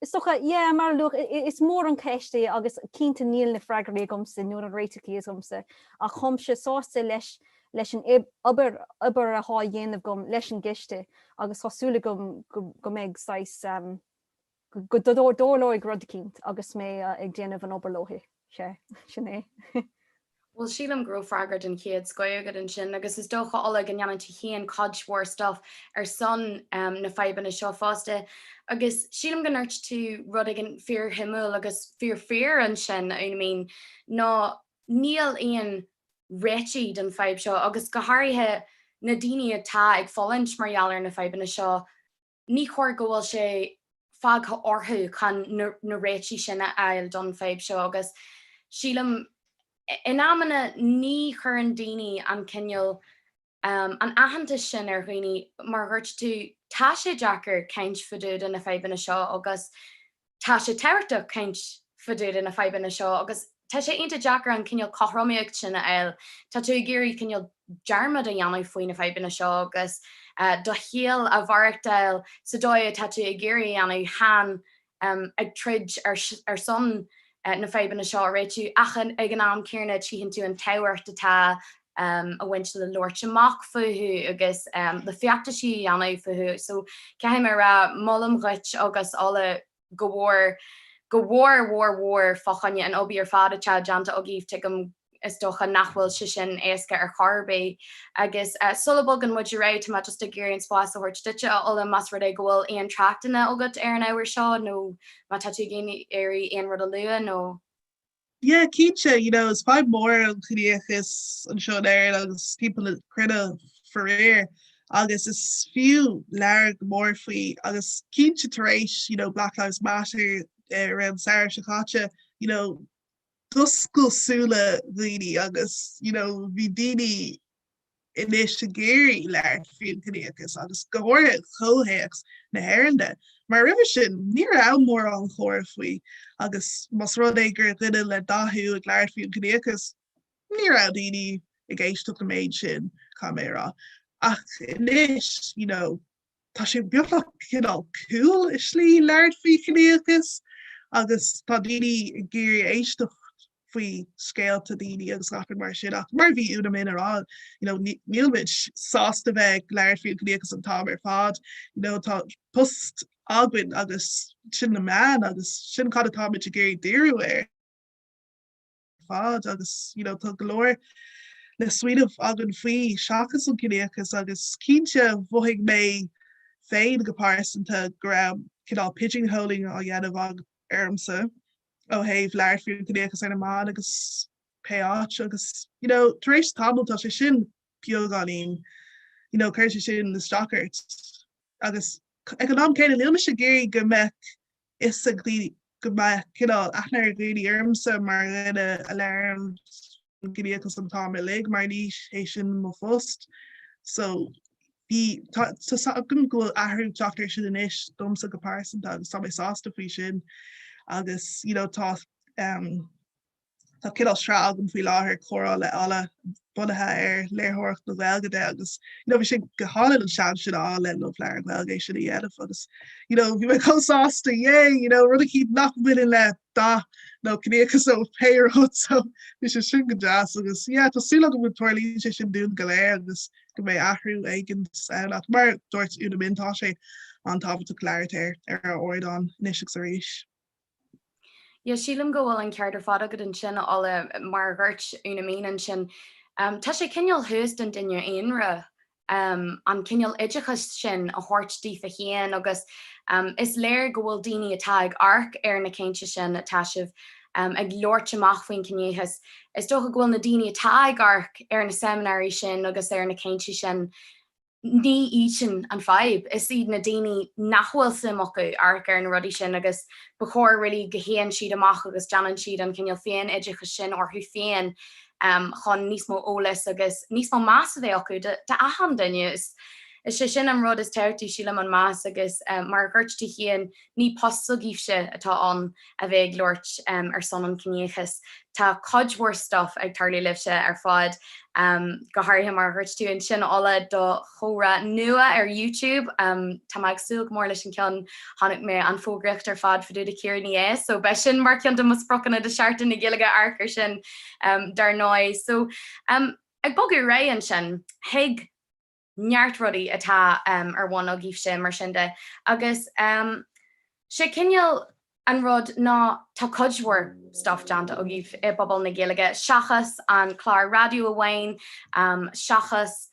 Is dócha, yeah, mar, look, is mór an cheist é agus cinnte níl na freagraí agamsa nó na réiteachaí agamsa ach táimse sásta leis leis an obair athá dhéanamh agam leis an gcoiste agus tá súil agam go, go mbeidh saghas, go dtarlóidh rud éicint agus mé ag déanamh an obair leothu, sin é. Bhuel, sílim go raibh freagra den chéad scoith agat ansin, agus is dócha, Ola, go ndéanann tú féin cuid mhór stuif ar son na fadhbanna seo fosta, agus sílim go ndúirt tú rud éigin fíorshuimiúil agus fíorfhíor ansin, a Úna-Minh, ná níl aon réitigh don fhadhb seo, agus go háirithe na daoine atá ag fulaingt mar gheall ar na fadhbanna seo, ní chóir go bhfuil sé fágtha orthu chun na réitigh sin a fháil don fhadhb seo agus sílim in amanna ní chuireann daoine an cineál an aitheantas sin ar dhaoine mar dhúirt tú tá sé deacair caint fadúda na fadhbanna seo agus Tá sé tábhachtach caint fadúda na fadhbanna seo agus tá sé iontach deacair an cineál cothromaíocht sin a fháil, tá tú ag iarraidh cineál dearmad a dhéanamh faoi na fadhbanna seo agus do shaol a mhaireachtáil sa dóigh atá tú ag iarraidh a dhéanamh, chan ag troid ar son na fadhbanna seo a réitiú ach ag an am céanna tchíonn tú an tábhacht atá um a bhaint le labhairt amach fúthu agus um le feachtaisí a dhéanamh fúthu so caithfidh mé a rá, molaim duit agus Ola go mór, go mór mór mór fá choinne an obair ar fad atá déanta agaibh, tuigim is dócha nach bhfuil sé sin éasca ar chor ar bith agus uh sula bhogann muid ar aghaidh tá mé just ag iarraidh an spás a thabhairt duitse a Ola más rud é go bhfuil aon tráchtanna agat ar an ábhar seo nó má tá tú ag iarraidh aon rud a lua nó. Yeah, cinnte, you know, is fadhb mór an ciníochas anseo in Éirinn agus timpeall na cruinne faraor agus is fiú labhairt go mór faoi agus cinnte tar éis you know, Black Lives Matter eh, ar an samhradh seo caite, you know, d'oscail súile daoine agus you know, bhí daoine anois ag iarraidh labhairt faoin gciníochas, agus go háirithe i gcomhthéacs na hÉireann, mar roimhe sin, ní raibh mórán comhrá faoi, agus más rud é gur duine le dath thú ag labhairt faoin gciníochas, ní raibh daoine ag éisteacht an méid sin, caithfidh mé a rá, ach anois, you know. tá sé beagnach cineál cool i slí labhairt faoi chiníochas agus tá daoine ag iarraidh éisteacht faoi scéalta daoine agus gach rud mar sin ach mar a bhí Úna-Minh a' rá you know níl muid sásta bheith ag labhairt faoi an chiníochas an t-am ar fad you know tá post againn agus sin na meáin agus sin cad atá muid ag iarraidh díriú air. ar fad agus you know tá go leor leor smaointe againn faoi seachas an ciníochas agus cinnte mhothaigh mé féin go pearsanta go raibh cineál pigeonholing á dhéanamh ormsa ó thaobh labhairt faoin chiníochas ar na meáin agus pé áit agus you know tar éis tamaill tá sé sin beagáinín you know cuireann sé sin isteach ort agus ag an am céanna níl mise ag iarraidh go mbeadh fhios ag daoine go mbeadh cineál aithne ag daoine ormsa mar dhuine a labhraíonn faoin gciníochas an t-am uilig mar ní hé sin mo phost so bhí, tá, tá 's agam go bhfuil athrú ag teacht ar sin anois domsa go pearsanta agus tá mé sásta faoi sin agus you know tá ehm. Tá cineál sraith agam faoi láthair, Comhrá le Ola, bunaithe ar léitheoireacht na Gaeilge agus you know bhí sé go hálainn an seans sin a fháil le Love Leabhar Gaeilge é sin a dhéanamh agus you know bhí mé chomh sásta, yay! you know rud éigin nach mbaineann le dath nó ciníochas nó pé rud so bhí sé sin go deas agus yeah tá súil agam go dtarlaíonn sé sin dúinn go léir agus go mbeidh athrú éigin ann ach mar a dúirt Úna-Minh tá sé an-tábhachtach labhairt ar ar ár ardán anois agus arís. Yeah, sílim go bhfuil an ceart ar fad agat ansin, a Ola. Mar a dhúirt Úna-Minh ansin, tá sé cineál thuas don duine aonra an cineál oideachas sin a thabhairt daofa féin agus is léir go bhfuil daoine atá ag amharc ar na cainteanna sin atá sibh ag labhairt amach faoin gciníochas, is dócha go bhfuil na daoine atá ag amharc ar na seimineáirí sin agus ar na cainteanna sin, ní iad sin an fadhb, is iad na daoine nach bhfuil suim acu amharc ar na rudaí sin agus ba chóir really go théann siad amach agus déanann siad an cineál féin-oideachas sin orthu féin chun níos mó eolais agus níos mó meas a bheith acu do achan duine, is é sin an rud is tábhachtaí sílim an meas agus mar a dhúirt tú féin Ní postsa amháin atá ann a bheith ag labhairt ar son an chiníochais. Tá cuid mhór stuif ag tarlú libhse ar fad, go háirithe mar a dhúirt tú ansin Ola do chomhrá nua ar YouTube. Tá mé ag súil go mór leis an cheann. Chonaic mé an fógraíocht ar fad fá dtaobh de Ciara Ní É so beidh sin mar ceann de mo spriocanna do Sheachtain na Gaeilge amharc ar sin dar ndóigh. So ag bogadh ar aghaidh ansin, chuig. neart rudaí atá ar bhun agaibhse, mar sin de, am. Agus sé cineál an rud ná tá cuid mhór stuff déanta agaibh i bpobal na Gaeilge, seachas an clár raidió amháin, seachas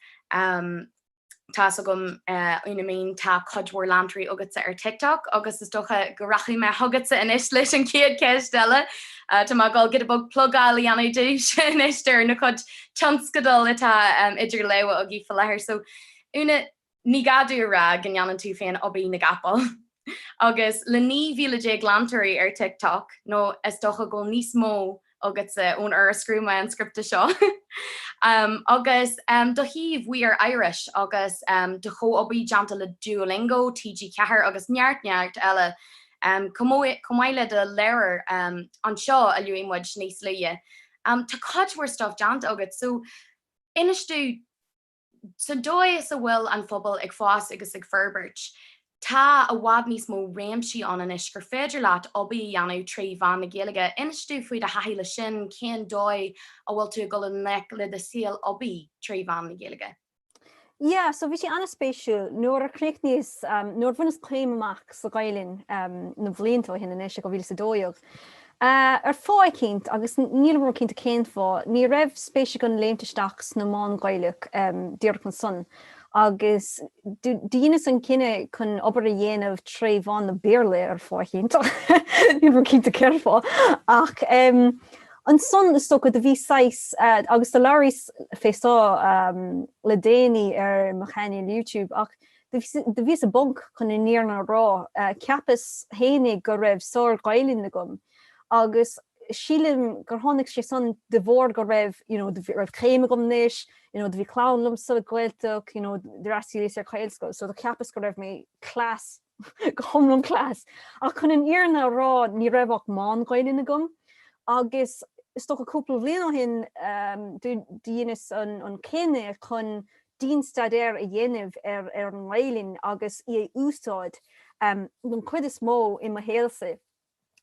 tá 'fhios agam Úna-Minh tá cuid mhór leantóirí agatsa ar TikTok agus is dócha go rachaidh mé chugatsa anois leis an chéad cheist eile, tá mé ag dul giota beag plugáil a dhéanamh duitse anois ar bhur gcuid tionscadal atá idir lámha agaibh faoi láthair so Úna ní gá domh a rá go ndéanann tú féin obair na gcapall agus le 19,000 leantóirí ar Tik Tok nó is dócha go bhfuil níos mó agatsa ón uair a scríobh mé an scripte seo agus do shuíomh We Are Irish agus do chomhobair déanta le Duolingo, TG Ceathair agus neart neart eile chomh maith le do leabhar Anseo a luaigh muid níos luaithe am, tá cuid mhór stuif déanta agat, so inis domh sa dóigh is a bhfuil an phobal ag fás agus ag forbairt, tá i bhfad níos mó réimsí ann anois gur féidir leat obair a dhéanamh trí mheán na Gaeilge, inis domh faoi do thaithí leis sin, cén dóigh a bhfuil tú ag dul i ngleic le do shaol oibre trí mheán na Gaeilge. Yeah, so bhí sé an-spéisiúil. Nuair a chríochnaíos, nuair a bhaineas céim amach sa Ghaelainn na blianta ó shin anois, i 2012, ar fáth eicínt, agus nílim ró cinnte cén fáth, ní raibh spéis agam léimt isteach sna meáin Ghaelacha díreach ansan, agus dheineas an cinneadh chun obair a dhéanamh tré mheán na Béarla, ar fáth eicínt, nílim ró cinnte cén fáth, ach. Ansan is dócha do bhí saghas, agus do labhraíos fé seo le déanaí ar mo chainéal YouTube, ach do bhíos i bponc chun an fhírinne a rá, cheapas fhéinig go raibh sár-Ghaelainn agam agus sílim gur tháinig sé san de bharr go raibh, you know, go raibh céim agam anois, you know, do bhí clann liom sa Ghaeltacht, you know, d'fhreastaíos ar Ghaelscoil, so do cheapas go raibh mé class. go hiomlán class. Ach chun an fhírinne a rá, ní raibh ach meán-Ghaelainn agam agus is dócha cúpla bhliain ó shin do dheineas an cinneadh chun dian-staidéar a dhéanamh ar an nGaelainn agus í a úsáid, don chuid is mó, i mo shaolsa.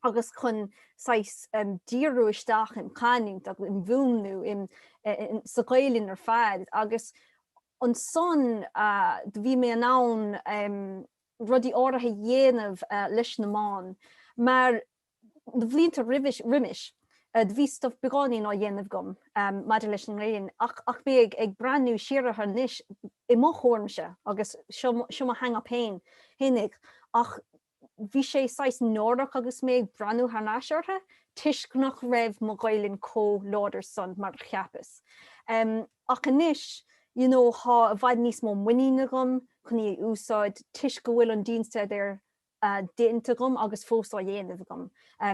agus chun saghas díriú isteach im chanúint agus im mhúnlú sa Ghaelainn ar fad agus ansan bhí mé in ann rudaí áirithe a dhéanamh leis na meáin mar na blianta roimis bhí stuif beagáinín á dhéanamh agam maidir leis an nGaelainn ach mé ag breathnú siar orthu anois i mo thuairimse agus seo mo hang-up féinig ach bhí sé saghas náireach agus mé ag breathnú thar n-ais orthu, toisc nach raibh mo Ghaelainn comh láidir san mar a cheapas. Ach anois, you know, thá i bhfad níos mó muiníne agam chun í a úsáid, toisc go bhfuil an dianstaidéar déanta agam agus fós á dhéanamh agam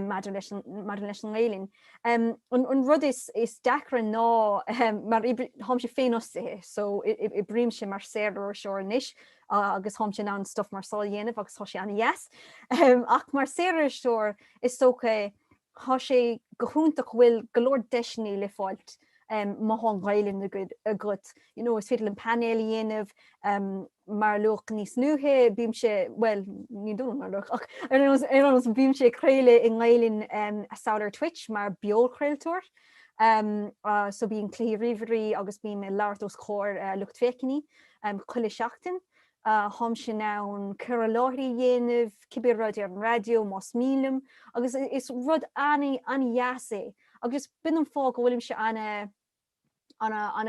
maidir leis an, maidir leis an nGaelainn. An rud is, is deacra ná, mar oibrí, tháimse féinfhostaithe, so oibrímse mar saoririseoir anois, agus tháimse in ann stuif mar seo a dhéanamh agus thá sé an-dheas. Ach mar saoririseoir is dócha thá sé go hiontach go bhfuil go leor deiseannaí le fáilt má thá an Ghaelainn agat. You know, is féidir liom painéil a dhéanamh mar a luadh níos luaithe, bímse, bhuel, ní dóigh liom mar a luadh ach ar nós, ar nós, bímse ag craoladh i nGaelainn anso ar Twitch mar beochraoltóir. So bíonn cluichí ríomhairí agus bím ag labhairt os comhair lucht féachainí. Chuile sheachtain, tháimse in ann cur i láthair a dhéanamh, cibé rud, ar an raidió, más mian liom, agus is rud an-dheas é, agus b'in an fáth go bhfuilimse an, an,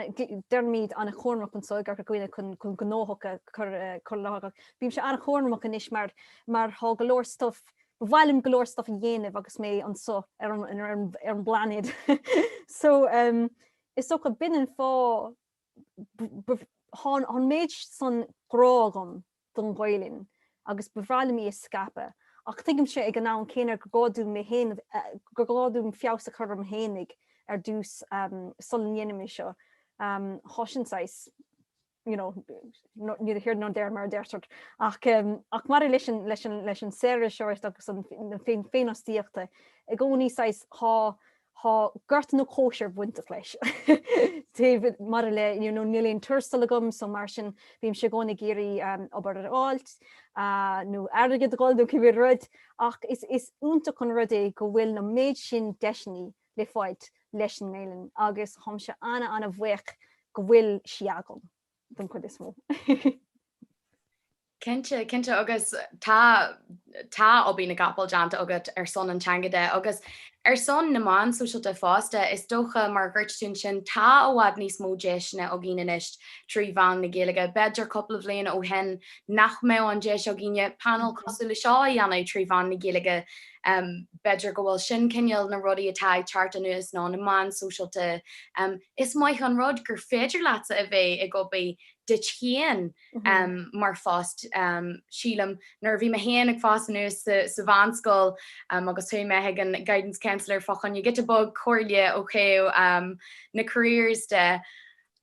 deirimid, an-chúramach anso i gCorca Dhuibhne chun gnóthach a chur i láthair. Bímse an-chúramach anois mar, mar thá go leor stuif, ba mhaith liom go leor stuif a dhéanamh agus mé anso ar an, ar an bplainéad. So, is dócha, b'in an fáth. Thá an méid san grá agam don Ghaelainn agus ba bhreá liom í a scaipeadh, ach tuigimse ag an am céanna gur gá dom mé, gur gá dom feabhas a chur orm féinig ar dtús, sula ndéanaim é seo, thá sin saghas, you know, neither here nor there mar a deirtear. Ach maidir leis an saoririseoireacht agus an féinfhostaíocht i gcónaí, saghas, thá, Thá gorta nó cóisir bainteach leis maidir le, you know, níl aon tuarastal agam so mar sin bímse i gcónaí ag iarraidh obair a fháilt nó airgead a dh'fháil nó cibé rud ach is is iontach an rud é go bhfuil na méid sin deiseannaí le fáilt leis an nGaelainn agus tháimse ana ana bhuíoch go bhfuil sí agam. don chuid is mó. Cinnte, cinnte agus tá tá obair na gcapall déanta agat ar son an teanga de agus ar son na meáin sóisialta fosta. Is dócha, mar a dúirt tú ansin, tá i bhfad níos mó deiseanna againn anois trí mheán na Gaeilge. B'fhéidir cúpla bhliain ó shin nach mbeadh an deis againne painéal cosúil le seo a dhéanamh trí mheán na Gaeilge. B'fhéidir go bhfuil sin cineál na rudaí atá ag teacht anuas ná na meáin sóisialta. Is maith an rud gur féidir leatsa a bheith ag obair duit féin mar phost. Sílim nuair a bhí mé féin ag fás anuas sa mheánscoil agus chuaigh mé chuig an guidance counsellor fá choinne giota beag comhairle ó thaobh na careers de,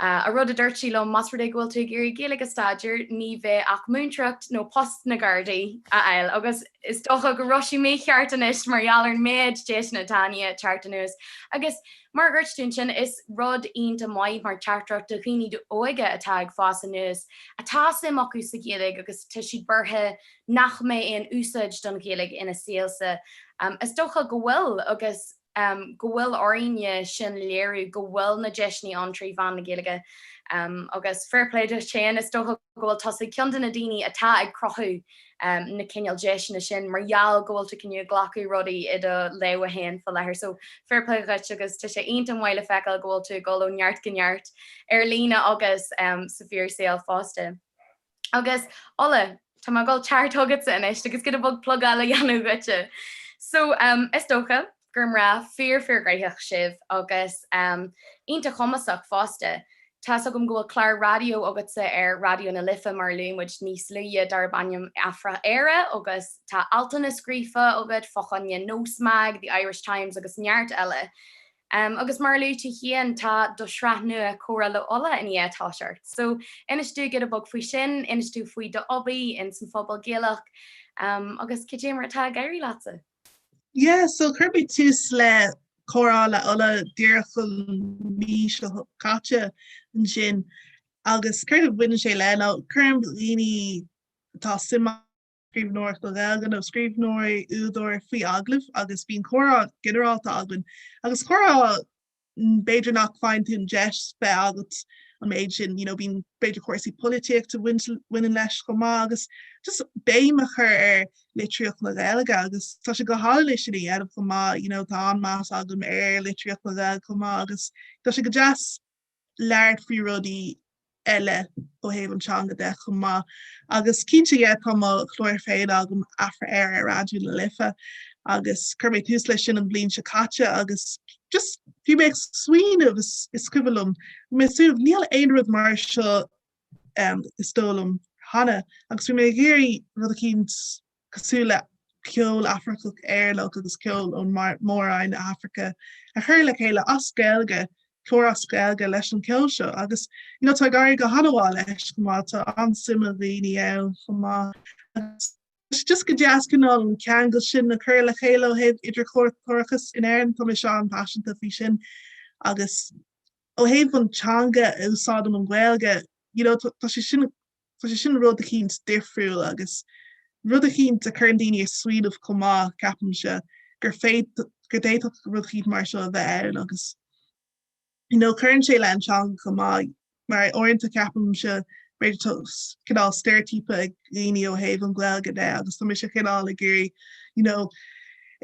an rud a dúirt sí liom, más rud é go bhfuil tú ag iarraidh Gaeilge a staidéar, ní bheidh ach múinteireacht nó post na Gardaí a fháil. Agus is dócha go raibh sí mícheart anois mar gheall ar an méid deiseanna atá i ndiaidh teacht anuas agus. Mar a dúirt tú ansin, is rud iontach maith mar teachtaireacht do dhaoine óga atá ag fás anuas, atá suim acu sa Ghaeilge agus tá siad buartha nach mbeidh aon úsáid don Ghaeilge ina saolsa. Is dócha go bhfuil agus go bhfuil orainne sin léiriú go bhfuil na deiseanna ann trí mheán na Gaeilge agus fair play duit féin, is dócha. go bhfuil tusa i gcionn de na daoine atá ag cruthú na cineál deiseanna sin mar gheall go bhfuil tú i ndiaidh glacadh rudaí i do lámha féin faoi láthair so fair play dhuit agus tá sé iontach maith le feiceáil go bhfuil tú ag dul ó neart go neart ar líne agus sa bhfíor saol fosta. Agus, Ola, tá mé ag dul a theacht chugatsa anois agus giota beag plugáil a dhéanamh dhuitse so is dócha, gur mná fíor-fíorghnaitheach sibh agus iontach cumasach fosta. Tá's agam go bhfuil clár raidió agatsa ar Raidió na Life mar a luaigh muid níos luaithe, darb ainm Afra-Éire agus tá altanna scríofa agat fá choinne Nósmag, The Irish Times agus neart eile. Agus mar a luaigh tú féin, tá do shraith nua Comhrá le Ola i ndiaidh a thoiseacht so inis dúinn giota beag faoi sin, inis dúinn faoi d'obair ins an phobal Gaelach agus cad é mar atá ag éirí leatsa? Yeah so chuir mé tús le comhrá le Ola díreach an mí seo caite ansin agus céard a bhaineann sé le ná cuirim daoine atá suim acu i scríbhneoireacht Ghaeilge nó scríbhneoirí, údair, faoi agallamh agus bíonn comhrá ginearálta againn agus comhrá b'fhéidir nach bhfaigheann tú an deis bheith agat an méid sin, you know bíonn b'fhéidir cúrsaí polaitíochta a bhaineann leis chomh maith agus just béim a chur ar litríocht na Gaeilge agus tá sé go hálainn é sin a dhéanamh chomh maith, you know tá an-meas agam ar litríocht na Gaeilge chomh maith agus tá sé go deas labhairt faoi rudaí eile ó thaobh an teanga de chomh maith agus cinnte yeah tá mo chlár féin agam, Afra-Éire, ar Raidió na Life agus chuir mé tús leis sin an bhliain seo caite agus just bhí mé ag smaoineamh is is cuimhin liom bhí mé ag smaoineamh níl aon rud mar seo is dóigh liom cheana agus bhí mé ag iarraidh rud eicínt cosúil le ceol Afracach Éireannach agus ceol ó Mhór-roinn na hAfraice, a chur le chéile as Gaeilge, clár as Gaeilge leis an ceol seo agus you know tá ag éirí go han-mhaith leis chomh maith, tá an-suim ag dhaoine ann chomh maith agus tá sé just go deas cineál an ceangal sin a chur le chéile ó thaobh idirchultúrachas in Éirinn, tá mise an-paiseanta faoi sin agus ó thaobh an teanga úsáidim an Ghaeilge, you know tá sé sin tá sé sin rud eicínt difriúil agus rud eicínt a chuireann daoine ag smaoineamh chomh maith, ceapaimse, gur féid, gur d'fhéadfadh rud eicínt mar seo a bheith ann agus you know cuireann sé le an teanga chomh maith mar uaireanta ceapaimse b'fhéidir tá cineál steireitíopa ag daoine ó thaobh an Ghaeilge de agus tá mise cineál ag iarraidh you know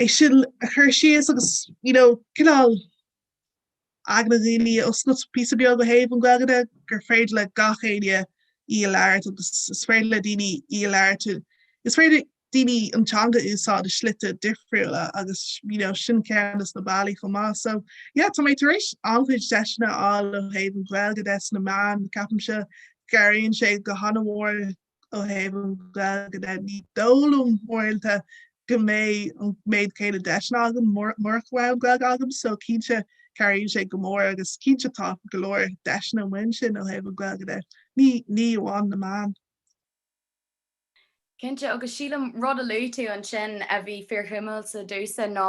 é sin a chur síos agus you know cineál aigne dhaoine a oscailt píosa beag ó thaobh an Ghaeilge de, gur féidir le gach éinne í a labhairt agus is féidir le daoine í a labhairt, is féidir daoine an teanga a úsáid i slite difriúla agus you know sin ceann de na bealaí chomh maith. So yeah, tá mé tar éis an-chuid deiseanna a fháil ó thaobh an Ghaeilge de sna meáin, ceapaimse go gcabhraíonn sé go han-mhór Ó thaobh an Ghaeilge de, ní dóigh liom uaireanta go mbeidh an méid céanna deiseanna agam murach raibh an Ghaeilge agam, so cinnte cabhraíonn sé go mór agus cinnte tá go leor deiseanna amuigh ansin ó thaobh an Ghaeilge de, ní amháin na meáin. Cinnte, agus sílim rud a luaigh tú ansin a bhí fíorshuimiúil domhsa ná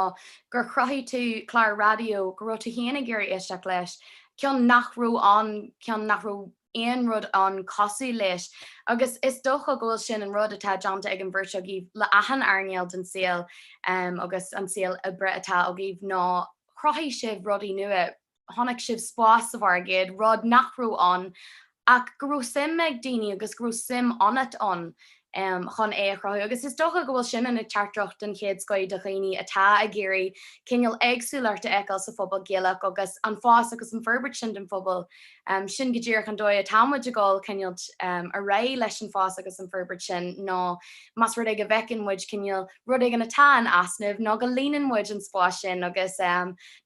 gur chruthaigh tú clár raidió go raibh tú féin ag iarraidh éisteacht leis, ceann nach raibh ann, ceann nach raibh. aon rud ann cosúil leis agus is dócha go bhfuil sin an rud atá déanta ag an bheirt agaibh le achan earnáil den saol agus an saol oibre atá agaibh ná chruthaigh sibh rudaí nua, chonaic sibh spás sa mhargadh, rud nach raibh ann ach go raibh suim ag daoine agus go raibh suim ionat ann. chun é a chruthú agus is dócha go bhfuil sin ina teachtaireacht don chéad scaifte de dhaoine atá ag iarraidh cineál éagsúlacht a fheiceáil sa phobal Gaelach agus an fás agus an forbairt sin den phobal, sin go díreach an dóigh atá muid ag dul cineál ar aghaidh leis an fás agus an forbairt sin ná más rud é go bhfeiceann muid cineál rud éigin atá in easnamh ná go líonann muid an spás sin agus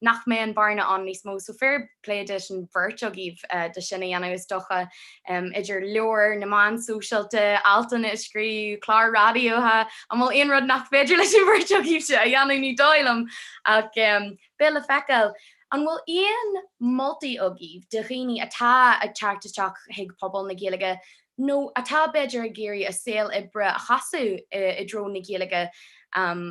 nach mbeidh an bearna ann níos mó. So fair play duit an bheirt agaibh do sin a dhéanamh is dócha. Idir leabhair, na meáin sóisialta, altanna a scríobh, cláir raidiótha, an bhfuil aon rud nach féidir leis an bheirt agaibhse a dhéanamh ní dóigh liom ach beidh le feiceáil. An bhfuil aon moltaí agaibh do dhaoine atá ag teacht isteach chuig pobal na Gaeilge nó atá b'fhéidir ag iarraidh a saol oibre a chasadh i dtreo na Gaeilge,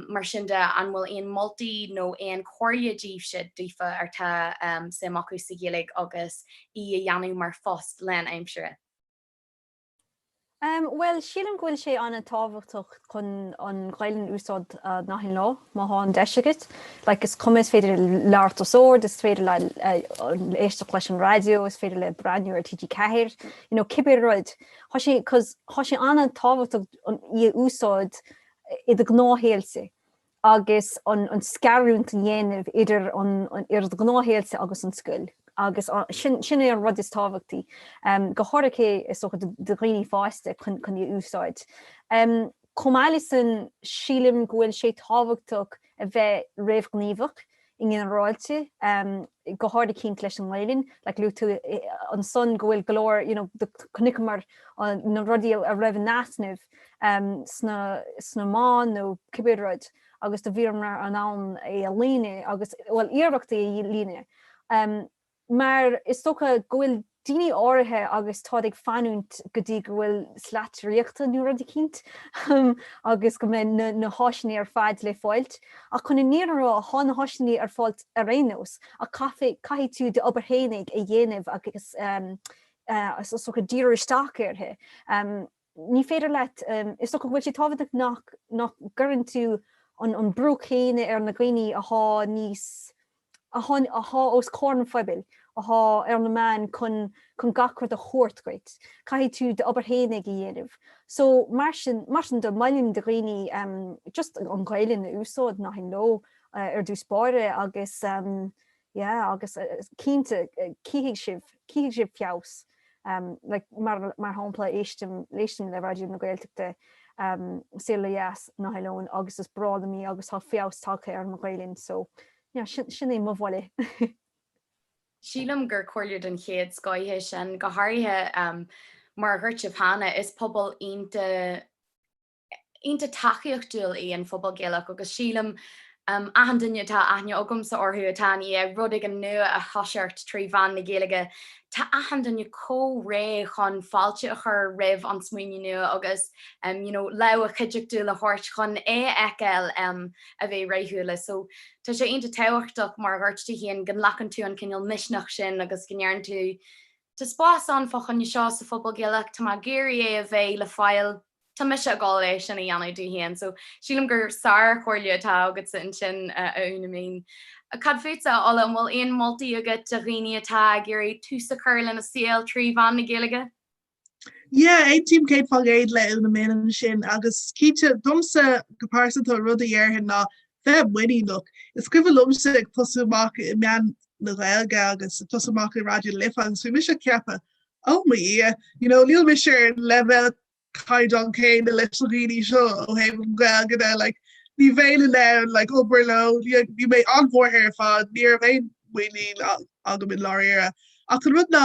mar sin de, an bhfuil aon moltaí nó aon chomhairle daoibhse, daofa, atá suim acu sa Ghaeilge agus í a dhéanamh mar phost lán aimsire? Bhuel, sílim go bhfuil sé an-tábhachtach chun an Ghaelainn a úsáid nach aon lá, má thá an deis agat. Like, is cuma, is féidir labhairt os ard, is féidir le le éisteacht leis an raidió, is féidir le breathnú ar TG 4, you know, cibé rud. Thá sé, cos, thá sé an-tábhachtach í a úsáid i do gnáthshaol-sa. agus an scarúint a dhéanamh idir do ghnáthshaol-sa agus an scoil, agus sin é an rud is tábhachtaí, go háirithe is dócha do dhaoine fásta, chun í a úsáid. Chomh maith leis sin, sílim go bhfuil sé tábhachtach a bheith réamhghníomhach i nginearáilte, go háirithe cinnte leis an nGaelainn, like luaigh tú ansan go bhfuil go leor, you know, chonaiceamar na rudaí a raibh in easnamh sna meáin nó cibé rud agus do bhíomar in ann é a líonadh agus, bhuel, iarracht é a líonadh. Mar is dócha go bhfuil daoine áirithe agus táid ag fanúint go dtí go bhfuil slat draíochta nó rud eicínt agus go mbeidh na háiseanna ar fad le fáilt. Ach chun an fhíor a rá, thá na háiseanna ar fáilt ar aon nós, ach caithfidh, caithfidh tú d'obair fhéinig a dhéanamh agus is dócha díriú isteach uirthi. ní féidir leat, is dócha go bhfuil sé tábhachtach nach gcuireann tú an brú céanna ar na daoine atá níos, atá os comhair an phobail, atá ar na meáin chun gach rud a thabhairt dhuit, caithfidh tú d'obair fhéinig a dhéanamh. So mar sin, mar sin do mholfainn do dhaoine just an Ghaelainn a úsáid, nach aon ló, ar dtús báire agus Yeah agus cinnte cífidh sibh, cífidh sibh feabhas like mar, mar shampla éistim, éistim le Raidió na Gaeltachta Saol ó Dheas nach aon ló agus is breá liom í agus tá feabhas tagtha ar mo Ghaoluinn so yeah sin, sin é mo mholadh. Sílim gur comhairle den chéad scoith é sin, go háirithe mar a dhúirt sibh cheana, is pobal iontach, iontach tacaíochtúil í an phobal Gaelach agus sílim achan duine atá aithne agamsa orthu atá ag iarraidh rud éigin nua a thoiseacht trí mheán na Gaeilge tá achan duine chomh réidh chun fáilte a chur roimh an smaoineamh nua agus you know lámh chuideachtúil a thabhairt chun é a fheiceáil a bheith rathúil so tá sé iontach tábhachtach mar a dúirt tú féin go nglacann tú an cineál misneach sin agus go ndeireann tú tá spás ann fá choinne seo sa phobal Gaelach tá mé ag iarraidh é a bheith le fáil tá mise ag dul é sin a dhéanamh dó féin so sílim gur sár-chomhairle atá agatsa ansin, a Úna-Minh. Cad fútsa, a Ola, an bhfuil aon mholtaí agat do dhaoine atá ag iarraidh tús a chur lena saol trí mheán na Gaeilge? Yeah, aontaím céad faoin gcéad le Úna-Minh ansin agus cinnte, domsa go pearsanta an rud a déarfainn ná bheith muiníneach. Is cuimhin liomsa ag tosú amach i meáin na Gaeilge agus ag tosú amach i Raidió na Life agus bhí mise ag ceapadh Oh mo Dhia, you know níl mise ar an leibhéal caighdeán céanna leis na daoine seo ó thaobh an Ghaeilge de, like ní bhéinn in ann like obair leo, bhí mé an-bhuartha ar fad, ní raibh aon muinín agam i ndáiríre. Ach an rud ná,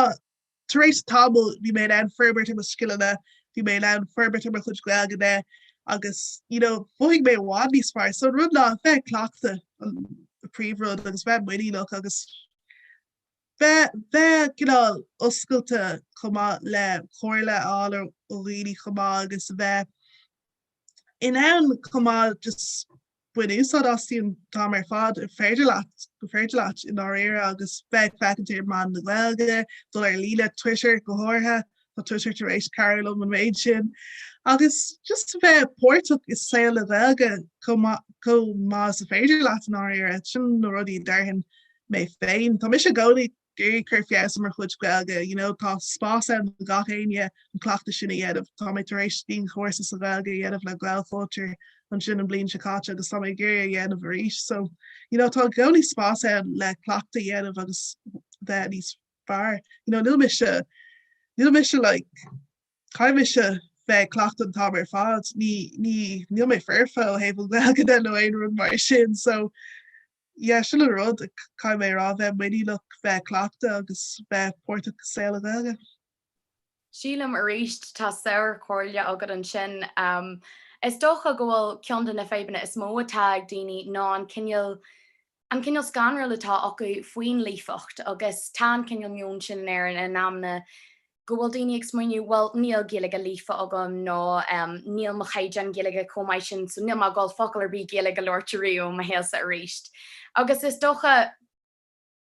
tar éis tamaill bhí mé in ann forbairt ar mo scileanna, bhí mé in ann forbairt ar mo chuid Gaelainne agus you know mhothaigh mé i bhfad níos fearr. So an rud ná a bheith ag cleachtadh an príomhrud agus bheith muiníneach agus. Bheith bheith cineál oscailte chomh maith le comhairle a fháil ó dhaoine chomh maith agus a bheith in ann chomh maith just bain úsáid as an t-am ar fad ar féidir leat, gur féidir leat i ndáiríre agus bheith ag feachaint ar meáin na Gaeilge, dul ar líne, Twitter go háirithe. tá Twitter tar éis cabhrú liom an méid sin agus just a bheith páirteach i saol na Gaeilge chomh maith is is féidir leat i ndáiríre, sin na rudaí a déarfainn mé féin. Tá mise i gcónaí ag iarraidh cur feabhas ar mo chuid Gaeilge, you know, tá spás ann do gach éinne an cleachtadh sin a dhéanamh, tá mé tar éis dianchúrsa sa Ghaeilge a dhéanamh le Gaelchultúr ansin an bhliain seo caite agus tá mé ag iarraidh é a dhéanamh arís so, you know, tá i gcónaí spás ann le cleachtadh a dhéanamh agus bheith níos fearr. You know, níl mise, níl mise like, caithfidh mise bheith ag cleachtadh an t-am ar fad, ní, ní, níl mé foirfe ó thaobh an Ghaeilge de nó aon rud mar sin so yeah, sin an rud, caithfidh mé a rá, bheith muiníneach, bheith ag cleachtadh agus bheith páirteach i saol na Gaeilge. Sílim aríst tá sárchomhairle agat ansin. Is dócha go bhfuil ceann de na fadhbanna is mó atá ag daoine ná an cineál an cineál scanradh atá acu faoin líofacht agus tá an cineál meon sin in Éirinn in amanna go bhfuil daoine ag smaoineamh bhuel níl Gaeilge líofa agam nó níl mo chaighdeán Gaeilge chomh maith sin so níl mé ag dul focal ar bith Gaeilge a labhairt ariamh i mo shaolsa aríst agus is dócha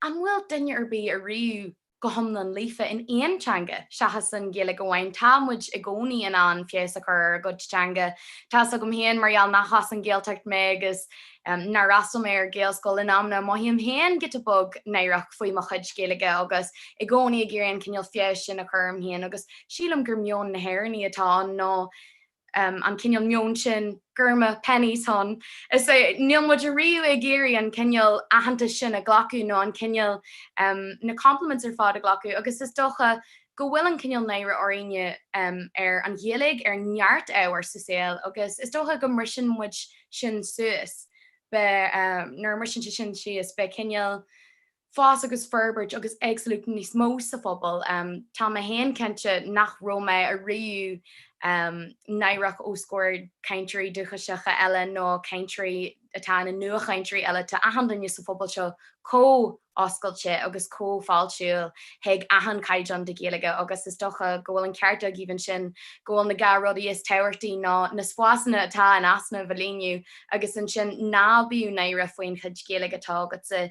An bhfuil duine ar bith ariamh go hiomlán líofa in aon teanga seachas an Ghaeilge amháin? Tá muid i gcónaí in ann feabhas a chur ar ár gcuid teanga. Tá's agam féin mar gheall nach as an Ghaeltacht mé agus nár fhreastail mé ar Ghaelscoil in amanna, mothaím féin giota beag náireach faoi mo chuid Gaeilge agus i gcónaí ag iarraidh an cineál feabhais sin a chur orm féin agus sílim gur meon na nÉireannach atá ann nó an cineál meoin sin go raibh maith, Penneys, hun. Is é, níl muid riamh ag iarraidh an cineál aitheantais sin a ghlacadh nó an cineál, na compliments ar fad a ghlacadh agus is dócha go bhfuil an cineál náire orainn ar an Ghaeilge ar neart ábhar sa saol agus is dócha go mbriseann muid sin síos, beidh, nuair a bhriseann sé sin síos, beidh cineál. fás agus forbairt agus absolute níos mó sa phobal. Tá mé féin cinnte nach raibh mé ariamh náireach os comhair cainteoirí dúchaiseacha eile nó cainteoirí atá ina nuachainteoirí eile, tá achan duine sa phobal seo chomh oscailte agus chomh fáiltiúil chuig achan caighdeán de Ghaeilge agus is dócha go bhfuil an ceart agaibh ansin go bhfuil na dhá rudaí is tábhachtaí ná na spásanna atá in easnamh a líonadh agus ansin ná bíodh náire faoin chuid Ghaeilge atá agatsa.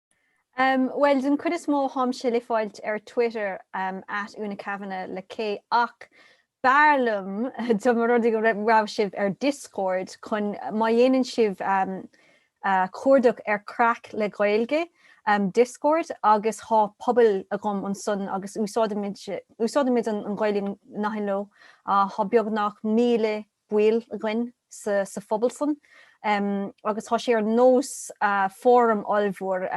Bhuel, den chuid is mó táimse le fáilt ar Twitter, at Úna Kavanagh le K, ach b'fhearr liom dá mba rud é go raibh sibh ar Discord chun má dhéanann sibh cuardach ar Craic le Gaeilge, Discord, agus tá pobal agam ansan agus úsáidimid an Ghaelainn gach aon ló, tá beagnach míle baill againn sa phobal san agus tá sé ar nós fóram ollmhór,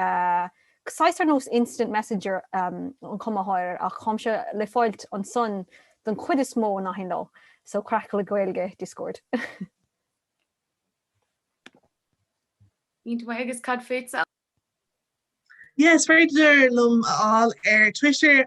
saghas ar nós instant messenger ar chuma éigin, ach táimse le fáilt ansan den chuid is mó gach aon ló, so Craic le Gaeilge Discord. Iontach maith agus cad fútsa? Yes, féidir mé a fháil ar Twitter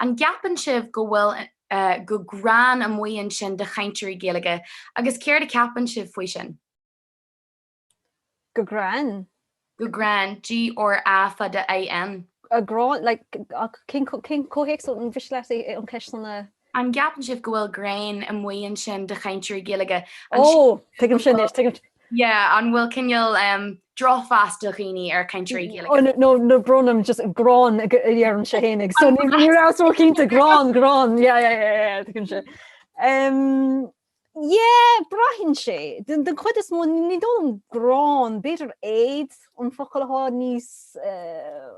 An gceapann sibh go bhfuil gráin amuigh ansin de chainteoirí Gaeilge agus céard a cheapann sibh faoi sin? Gráin? Gráin, GRA fada IN. Gráin, like cén comhthéacs gabh mo leithscéal an cheist san. An gceapann sibh go bhfuil gráin amuigh ansin de chainteoirí Gaeilge? An. Ó! Tuigim sin anois, tuigim. Yeah, an bhfuil cineál drochmheas ag daoine ar chainteoirí Gaeilge? Ó no, brón orm just gráin a deirimse féinig, so ní rabhas ró cinnte, gráin, gráin, yeah, yeah, yeah, yeah, tuigim sin. Um, yeah, braitheann sé, den, den chuid is mó, ní dóigh liom gráin, b'fhéidir éad an focal atá níos, uh,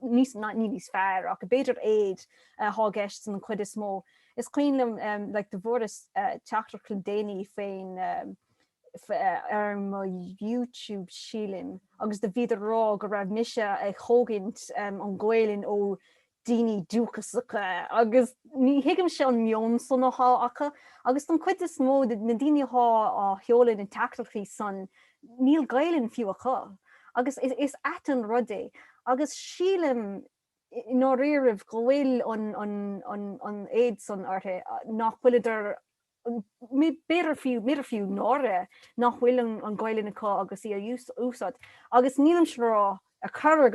níos, ná, ní níos fearr, ach b'fhéidir éad atá i gceist den chuid is mó. Is cuimhin liom, um, like, do fuaireas teachtaireacht le déanaí faoin, um, ar mo YouTube sílim agus do bhíodar a rá go raibh mise a thógaint an Ghaolainn ó daoine dúchasacha agus ní thuigimse an meon san athá acu agus don chuid is mó de na daoine athá a seoladh na dteachtaireachtaí san níl Gaolainn fiú acu agus is ait an rud é agus sílim i ndáiríribh go bhfuil an éad san orthu nach bhfuileadar fiú, b'fhéidir fiú náire nach bhfuil an Ghaelainn acu agus í a úsáid. Agus nílimse a rá ar chor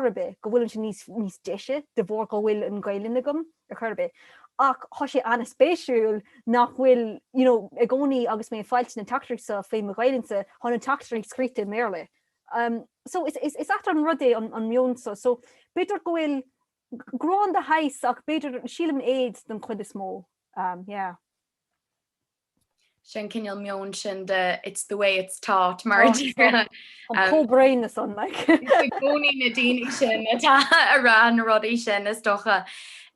ar bith go bhfuilimse níos níos deise de bharr go bhfuil an Ghaelainn agam ar chor ar bith, ach tá sé ana-spéisiúil nach bhfuil, you know, i gcónaí agus mé ag fáilt na teachtaireachtaí seo faoi mo Ghaelainnse, thá na teachtaireachtaí scríte i mBéarla. So is is ait an rud é an meon seo. So b'fhéidir go bhfuil. Grán de shaghas ach b'fhéidir, sílim an éad den chuid is mó, yeah. Sin cineál meoin sin de it's the way it's taught, mar, cosúil leis an like, i gcónaí na daoine sin atá a rá na rudaí sin, is dócha.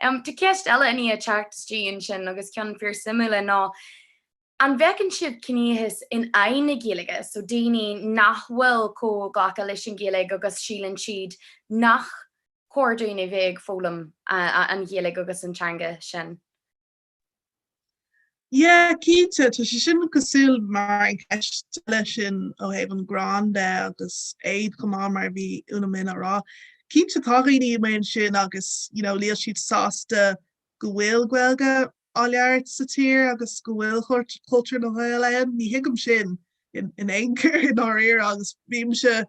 Tá ceist eile againne a teacht isteach ansin agus ceann fíor suimiúil é ná, An bhfeiceann siad ciníochas in aghaidh na Gaeilge, so daoine nach bhfuil chomh gafa leis an Ghaeilge agus síleann siad nach cóir dúinn a bheith ag foghlaim an Ghaeilge agus an teanga sin? Yeah, cinnte, tá sé sin cosúil mar an ceist, leis sin ó thaobh an gráin de agus éad chomh maith mar bhí Úna-Minh á rá. Cinnte tá daoine amuigh ansin agus you know níl siad sásta go bhfuil Gaeilge á labhairt sa tír agus go bhfuil cultúr na nGael ann. Ní thuigim sin in aon chor i ndáiríre agus bímse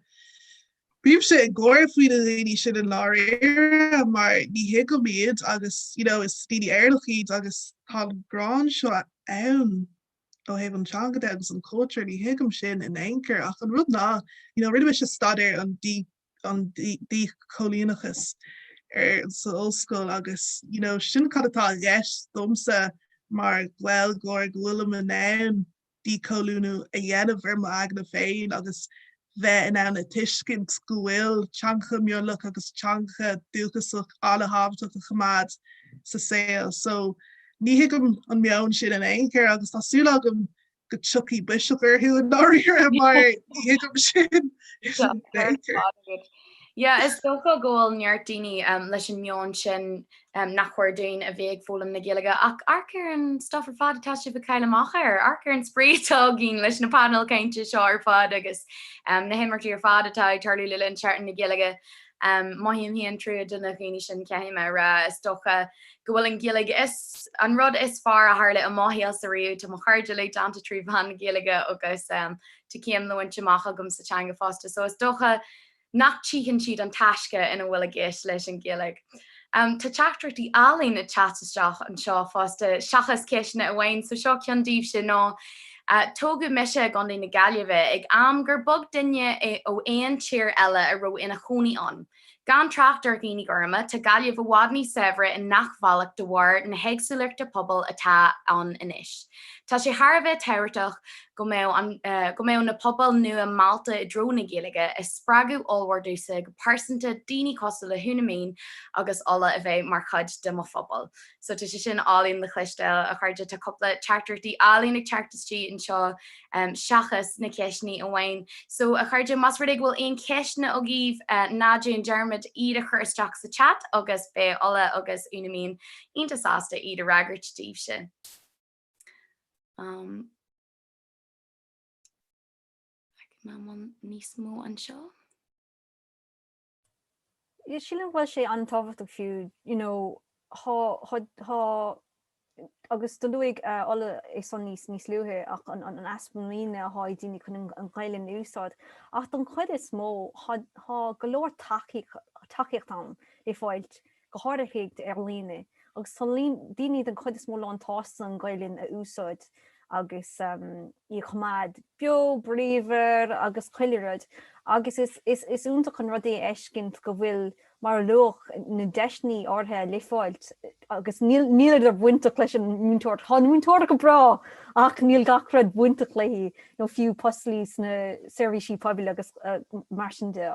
bímse ag gáir faoi na daoine sin i ndáiríre mar ní thuigim iad agus you know is daoine Éireannach iad agus tá an gráin seo ann ó thaobh an teanga de agus an cultúr, ní thuigim sin in aon chor ach an rud ná you know rinne mise staidéar ar an an díchoilíneachas ar san ollscoil agus you know sin cad atá i gceist domsa mar Gaeilgeoir go bhfuilim in ann díchoilíniú a dhéanamh ar mo aigne féin agus bheith in ann a tuiscint go bhfuil teangacha mionlach agus teangacha dúchasach an-tábhachtach a choimeád sa saol so ní thuigim an meon sin in aon chor agus tá súil agam go dtiocfaidh biseach orthu i ndáiríre mar ní thuigim sin. Yeah, is dócha go bhfuil neart daoine leis an meon sin nach chóir dúinn a bheith ag foghlaim na Gaeilge ach amharc ar an stuff ar fad atá sibh ag cailleadh amach air, amharc ar an spraoi atá againn leis na painéil cainte seo ar fad agus na himeachtaí ar fad atá ag tarlú le linn Seachtain na Gaeilge. Mothaím féin trua do na daoine sin, caithfidh mé a rá. Is dócha go bhfuil an Ghaeilge an rud is fearr a tharla i mo shaolsa ariamh, tá mo chairde uilig déanta trí mheán na Gaeilge agus tá céim le bhaint amach agam sa teanga fosta, so is dócha nach tchíonn siad an taisce ina bhfuil i gceist leis an Ghaeilge. Tá teachtaireachtaí álainn ag teacht isteach anseo fosta, seachas ceisteanna amháin, so seo ceann daoibhse, ná Tógadh mise i gContae na Gaillimhe ag am gur beag duine ó aon tír eile a raibh ina chónaí ann, Gan trácht ar dhaoine gorma, tá Gaillimh i bhfad níos saibhre i ngach bhealach de bharr na héagsúlachta pobail atá ann anois. Tá sé thar a bheith tábhachtach go mbeadh an, go mbeadh na pobail nua meallta i dtreo na Gaeilge, is spreagadh ollmhór domhsa go pearsanta daoine cosúil le hÚna-Minh agus Ola a bheith mar chuid de mo phobal. so tá sé sin álainn le chloisteáil, a chairde, tá cúpla teachtaireachtaí álainn ag teacht istigh anseo seachas na ceisteannaí amháin. So, a chairde, más rud é go bhfuil aon cheisteanna agaibh, ná déan dearmad iad a chur isteach sa chat agus beidh Ola agus Úna-Minh iontach sásta iad a fhreagairt daoibhse. Am. Feicim níos mó anseo. Sílim go bhfuil sé an-tábhachtach fiú, you know, thá, thá, thá, agus do luaigh Ola é san níos, níos luaithe, ach an, an easpa muiníne athá ag daoine chun an, an Ghaelainn a úsáid, ach don chuid is mó thá, thá go leor tacaíocht, tacaíocht ann le fáilt go háirithe ar líne, agus tá daoine den chuid is mó lánsásta an Ghaelainn a úsáid agus í a choimeád beo bríomhar agus chuile rud, agus is iontach an rud é a fheiscint go bhfuil, mar a luadh, na deiseanna áirithe le fáilt, agus níleadar bainteach leis an múinteoireacht, tá an mhúinteoireacht go breá, ach níl gach rud bainteach léi, nó fiú poist leis na seirbhísí poiblí agus mar sin de.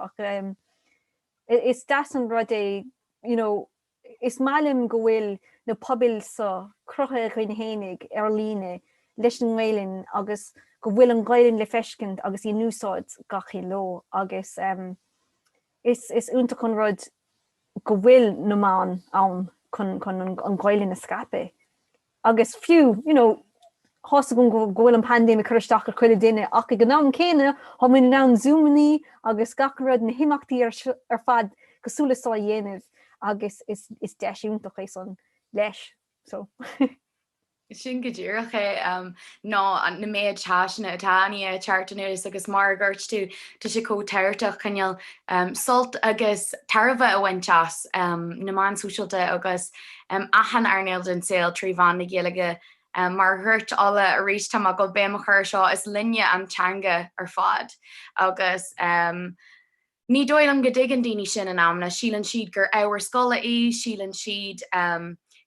Is deas an rud é, you know, is maith liom go bhfuil na pobail so, cruthaithe againn fhéinig ar líne leis an nGaelainn agus go bhfuil an Ghaelainn le feiscint agus í in úsáid gach aon ló agus ehm is is iontach an rud go bhfuil na meáin ann chun chun an Ghaelainn a scaipeadh. Agus fiú, you know, thá a fhios agam go bhfuil an paindéim ag cur isteach ar chuile duine, ach ag an am céanna thá muid in ann zúmannaí agus gach rud, na himeachtaí ar ar fad cosúil le seo a dhéanamh agus is is deis iontach é san leis, so. Sin go díreach é, ná na méid deiseanna atá i ndiaidh teacht anuas agus mar a dhúirt tú, tá sé chomh tábhachtach cineál sult agus tairbhe a bhaint as, na meáin sóisialta agus achan earnáil den tsaol trí mheán na Gaeilge. Mar a dúirt Ola arís, tá mé ag dul béim a chur ar seo, is linne an teanga ar fad agus ní dóigh liom go dtuigeann daoine sin in amanna, síleann siad gur ábhar scoile í, síleann siad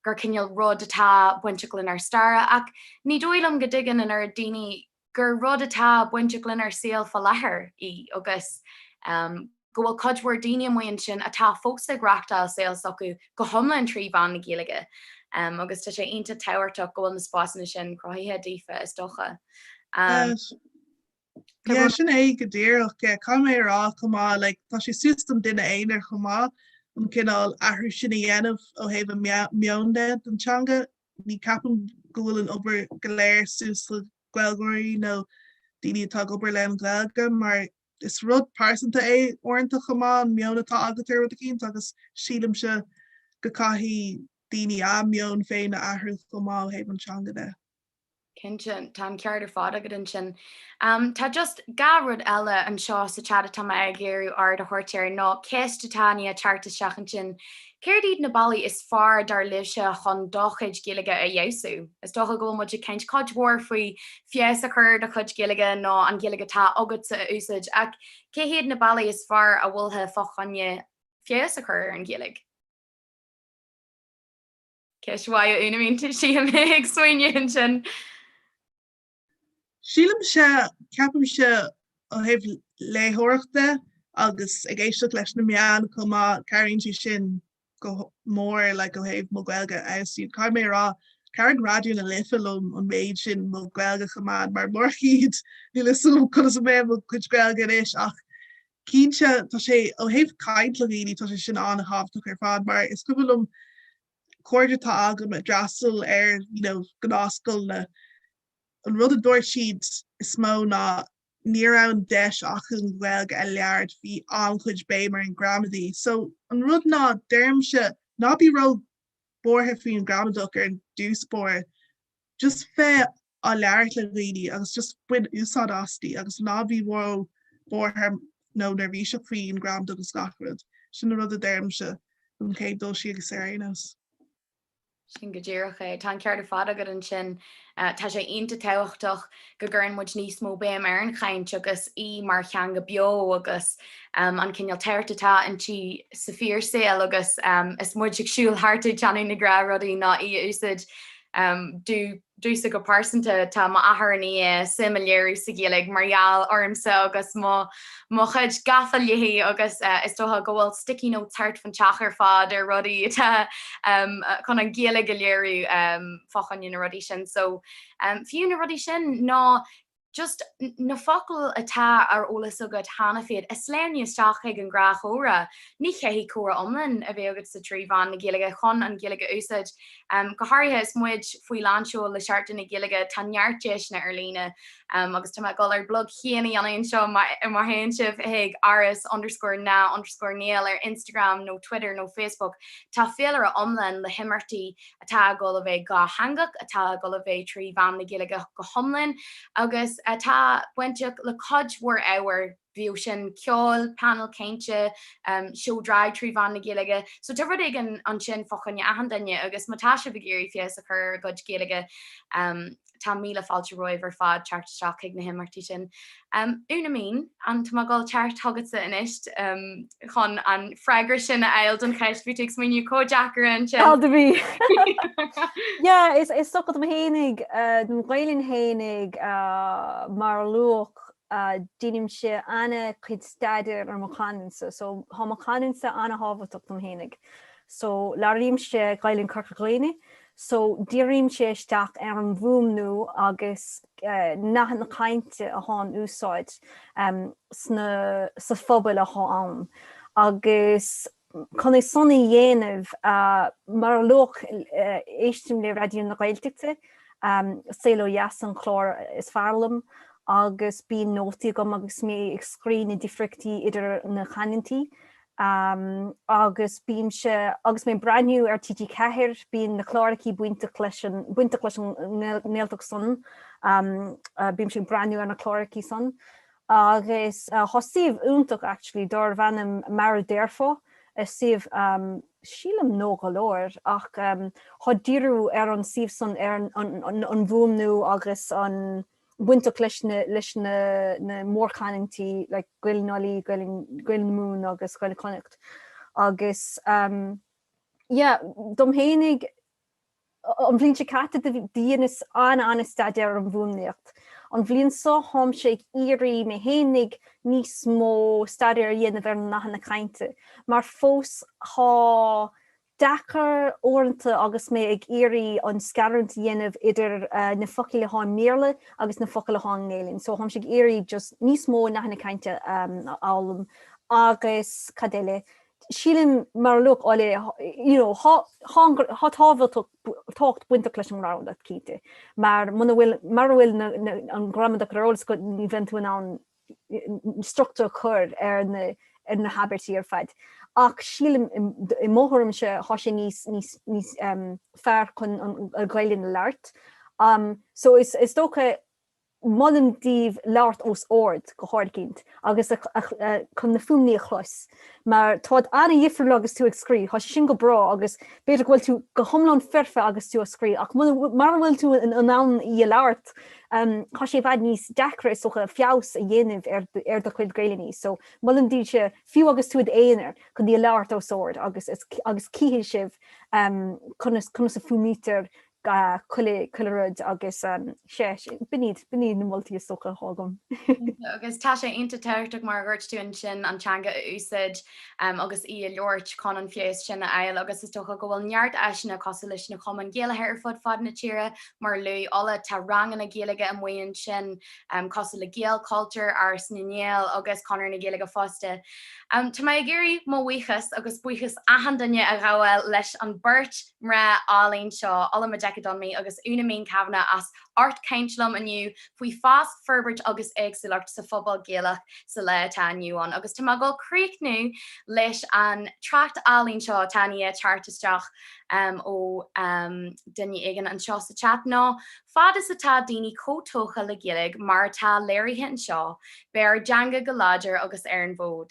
gur cineál rud atá bainteach lenár stair ach ní dóigh liom go dtuigeann an oiread daoine gur rud atá bainteach lenár saol fá láthair í agus go bhfuil cuid mhór daoine amuigh ansin atá fós ag reáchtáil saol s'acu go hiomlán trí mheán na Gaeilge agus tá sé iontach tábhachtach go bhfuil na spásanna sin cruthaithe daofa, is dócha. Sea, sin é go díreach, caithfidh mé a rá chomh maith, like, tá sé suas don duine aonair chomh maith an cineál athrú sin a dhéanamh ó thaobh an meon de don teanga Ní ceapaim go bhfuil an obair go léir suas le Gaeilgeoirí nó daoine atá ag obair le an Ghaeilge mar is rud pearsanta é uaireanta chomh maith an meon atá agat ar rud eicínt agus sílimse go gcaithfidh daoine a meon féin a athrú chomh maith ó thaobh an teanga de. Cinnte, tá an ceart ar fad agat ansin. Tá just dhá rud eile anseo sa chat atá mé ag iarraidh aird a thabhairt air, nó ceist atá i ndiaidh teacht isteach ansin, céard iad na bealaí is fearr dar libhse chun do chuid Gaeilge a fheabhsú? Is dócha go bhfuil muid ag caint cuid mhór faoi feabhas a chur ar do chuid Gaeilge nó an Ghaeilge atá agatsa a úsáid, ach cé hiad na bealaí is fearr a mholfá fá choinne feabhas a chur ar an Ghaeilge? Ceist mhaith ionam féin, tá mé ag smaoineamh ansin. Sílimse, ceapaimse ó thaobh léitheoireachta agus ag éisteacht leis na meáin chomh maith, cabhraíonn sé sin go mór like ó thaobh mo Ghaeilge a fheabhsú. Caithfidh mé a rá, chabhraigh Raidió na Life liom an méid sin mo Ghaeilge a choimeád mar murach iad, níl a fhios agam conas a bheadh mo chuid Gaeilge anois ach Cinnte, tá sé, ó thaobh caint le daoine, tá sé sin an-tábhachtach ar fad mar is cuimhin liom cairde atá agam a d'fhreastail ar, you know, gnáthscoileanna, an rud a dúirt siad is mó ná ní raibh an deis acu an Ghaeilge a labhairt, bhí an-chuid béim ar an ghramadaí. So, an rud ná, deirimse, ná bí ró-bhuartha faoin ghramadach ar dtús báire, Just bheith á labhairt le daoine agus just bain úsáid aisti agus ná bí ró-bhuartha nó neirbhíseach faoin ghramadach agus gach rud. Sin an rud a deirimse don chéad dul síos ar aon nós. Sin go díreach é. Tá an ceart ar fad agat ansin. Tá sé iontach tábhachtach go gcuireann muid níos mó béim ar an chaint agus í mar theanga beo agus an cineál tábhacht atá inti sa fhíorshaol agus is muid ag siúl thart ag déanamh na gnáthrudaí ná í a úsáid. Do domhsa go pearsanta, tá m'athair i ndiaidh suim a léiriú sa Ghaeilge mar gheall ormsa agus mo chuid gafa léithi agus is dócha go bhfuil sticky notes thart fán teach ar fad ar rudaí atá chun an Ghaeilge a léiriú fá choinne na rudaí sin. So, fiú na rudaí sin ná just na focail atá ar eolas agat cheana féin a shleamhnú isteach chuig an ghnáthchomhrá. Ní chaithfidh comhrá iomlán a bheith agatsa trí mheán na Gaeilge chun an Ghaeilge a úsáid. Go háirithe is muid faoi lánseol le Seachtain na Gaeilge tá neart deiseanna ar líne agus tá mé ag dul ár bplug féin a dhéanamh anseo má théann sibh chuig aras underscore na underscore ngael ar Instagram nó Twitter nó Facebook tá féilire iomlán le himeachtaí atá ag dul a bheith dhátheangach, atá ag dul a bheith trí mheán na Gaeilge go hiomlán, agus atá bainteach le cuid mhór ábhair, bíodh sin ceol, painéil chainte, seó drag trí mheán na Gaeilge. So tá rud éigin ansin fá choinne achan duine agus má tá sibh ag iarraidh feabhas a chur ar bhur gcuid Gaeilge, Tá míle fáilte romhaibh ar fad, teacht isteach chuig na himeachtaí sin. Úna-Minh, an dtig liom a ghabháil thart chugatsa anois chun an freagra sin a fháil don cheist a bhí tú ag smaoineamh chomh deacair ansin? Tá, do bhí. Yeah, is dócha dom fhéinig, dom Ghaelainn fhéinig, mar a luadh, deinimse an-chuid staidéir ar mo chanúint-sa. So, tá mo chanúint-sa an-tábhachtach dom fhéinig, so, labhraímse Gaelainn Chorca Dhuibhne, so dírímse isteach ar an bhfuaimniú agus nathanna cainte athá in úsáid sna, sa phobal athá ann agus chun é san a dhéanamh mar a luadh éistim le Raidió na Gaeltachta, Saol ó Dheas an clár is fearr liom agus bíonn nótaí agam agus mé ag scrí na difríochtaí idir na canúintí Am, agus bímse, agus mé ag breathnú ar TG4, bíonn na clárachaí bainteach leis an, bainteach leis an nGaeltacht san, bímse ag breathnú ar na clárachaí san, agus tá suíomh iontach actually dárbh ainm Mar a Déarfá, suíomh, sílim nua go leor, ach tá díriú ar an suíomh san ar an bhfuaimniú agus an, bainteach leis na leis na na mórchanúintí like Gaelainn Uladh, Gaeilg Gaeilg na Mumhan agus Gaeilg Chonnacht agus ehm yeah dom fhéinig an bhliain seo caite do dheineas an-an-staidéar ar an bhfuaimníocht. An bhliain seo tháimse ag iarraidh mé fhéinig níos mó staidéir a dhéanamh ar na nathanna cainte mar fós tá deacair uaireanta agus mé ag iarraidh an scarúint a dhéanamh idir na focail atá i mBéarla agus na focail atá i nGaelainn, so táimse ag iarraidh just níos mó nathanna cainte a fhoghlaim agus cad eile, sílim mar a luaigh Ola you know thá, thá tábhachtach, tábhacht bainteach leis an ngramadach cinnte mar muna bhfuil, mura bhfuil an ghramadach ar eolas agat ní bhíonn tú in ann, struchtúr a chur ar na habairtí ar fad. Ach sílim, i mo thuairimse, thá sé níos fearr chun an Ghaelainn a labhairt. So is dócha, molaim daoibh labhairt os ard go háirgint agus chun na fuaimní a chlos. mar táid ana-dhifriúil agus tú ag scrí, tá sé sin go breá agus b'fhéidir go bhfuil tú go hiomlán foirfe agus tú a' scrí ach muna, mara bhfuil tú in ann í a labhairt, tá sé i bhfad níos deacra, is dócha, feabhas a dhéanamh ar, ar do chuid Gaelainne. So, molaim daoibhse, fiú agus tú i d'aonar, chun í a labhairt os ard agus, agus, agus cífidh sibh conas, conas a fuaimnítear chuile, chuile rud agus em. sea, sin, b'in iad, b'in iad na moltaí is dócha athá agam. Agus tá sé iontach tábhachtach mar a dhúirt tú ansin an teanga a úsáid em agus í a labhairt chun an feabhas sin a fháil agus is dócha go bhfuil neart áiseanna cosúil leis na Cumainn Ghaelacha ar fud fad na tíre mar a luaigh Ola, tá ranganna Gaeilge amuigh ansin em cosúil le Gaelchultúr, Áras na nGael agus Conradh na Gaeilge fosta. Em tá mé ag iarraidh mo bhuíochas agus buíochas achan duine a ghabháil leis an beirt. mná áille seo, Ola Majekodunmi agus Úna-Minh Kavanagh as ucht caint liom inniu faoi fás, forbairt agus éagsúlacht sa phobal Gaelach sa lá atá inniu ann agus tá mé ag dul críochnú leis an trácht álainn seo atá i ndiaidh teacht isteach ó duine éigin anseo sa chat ná fad is atá daoine chomh tógtha le Gaeilge mar atá léirithe anseo, beidh ár dteanga go láidir agus ar an bhfód.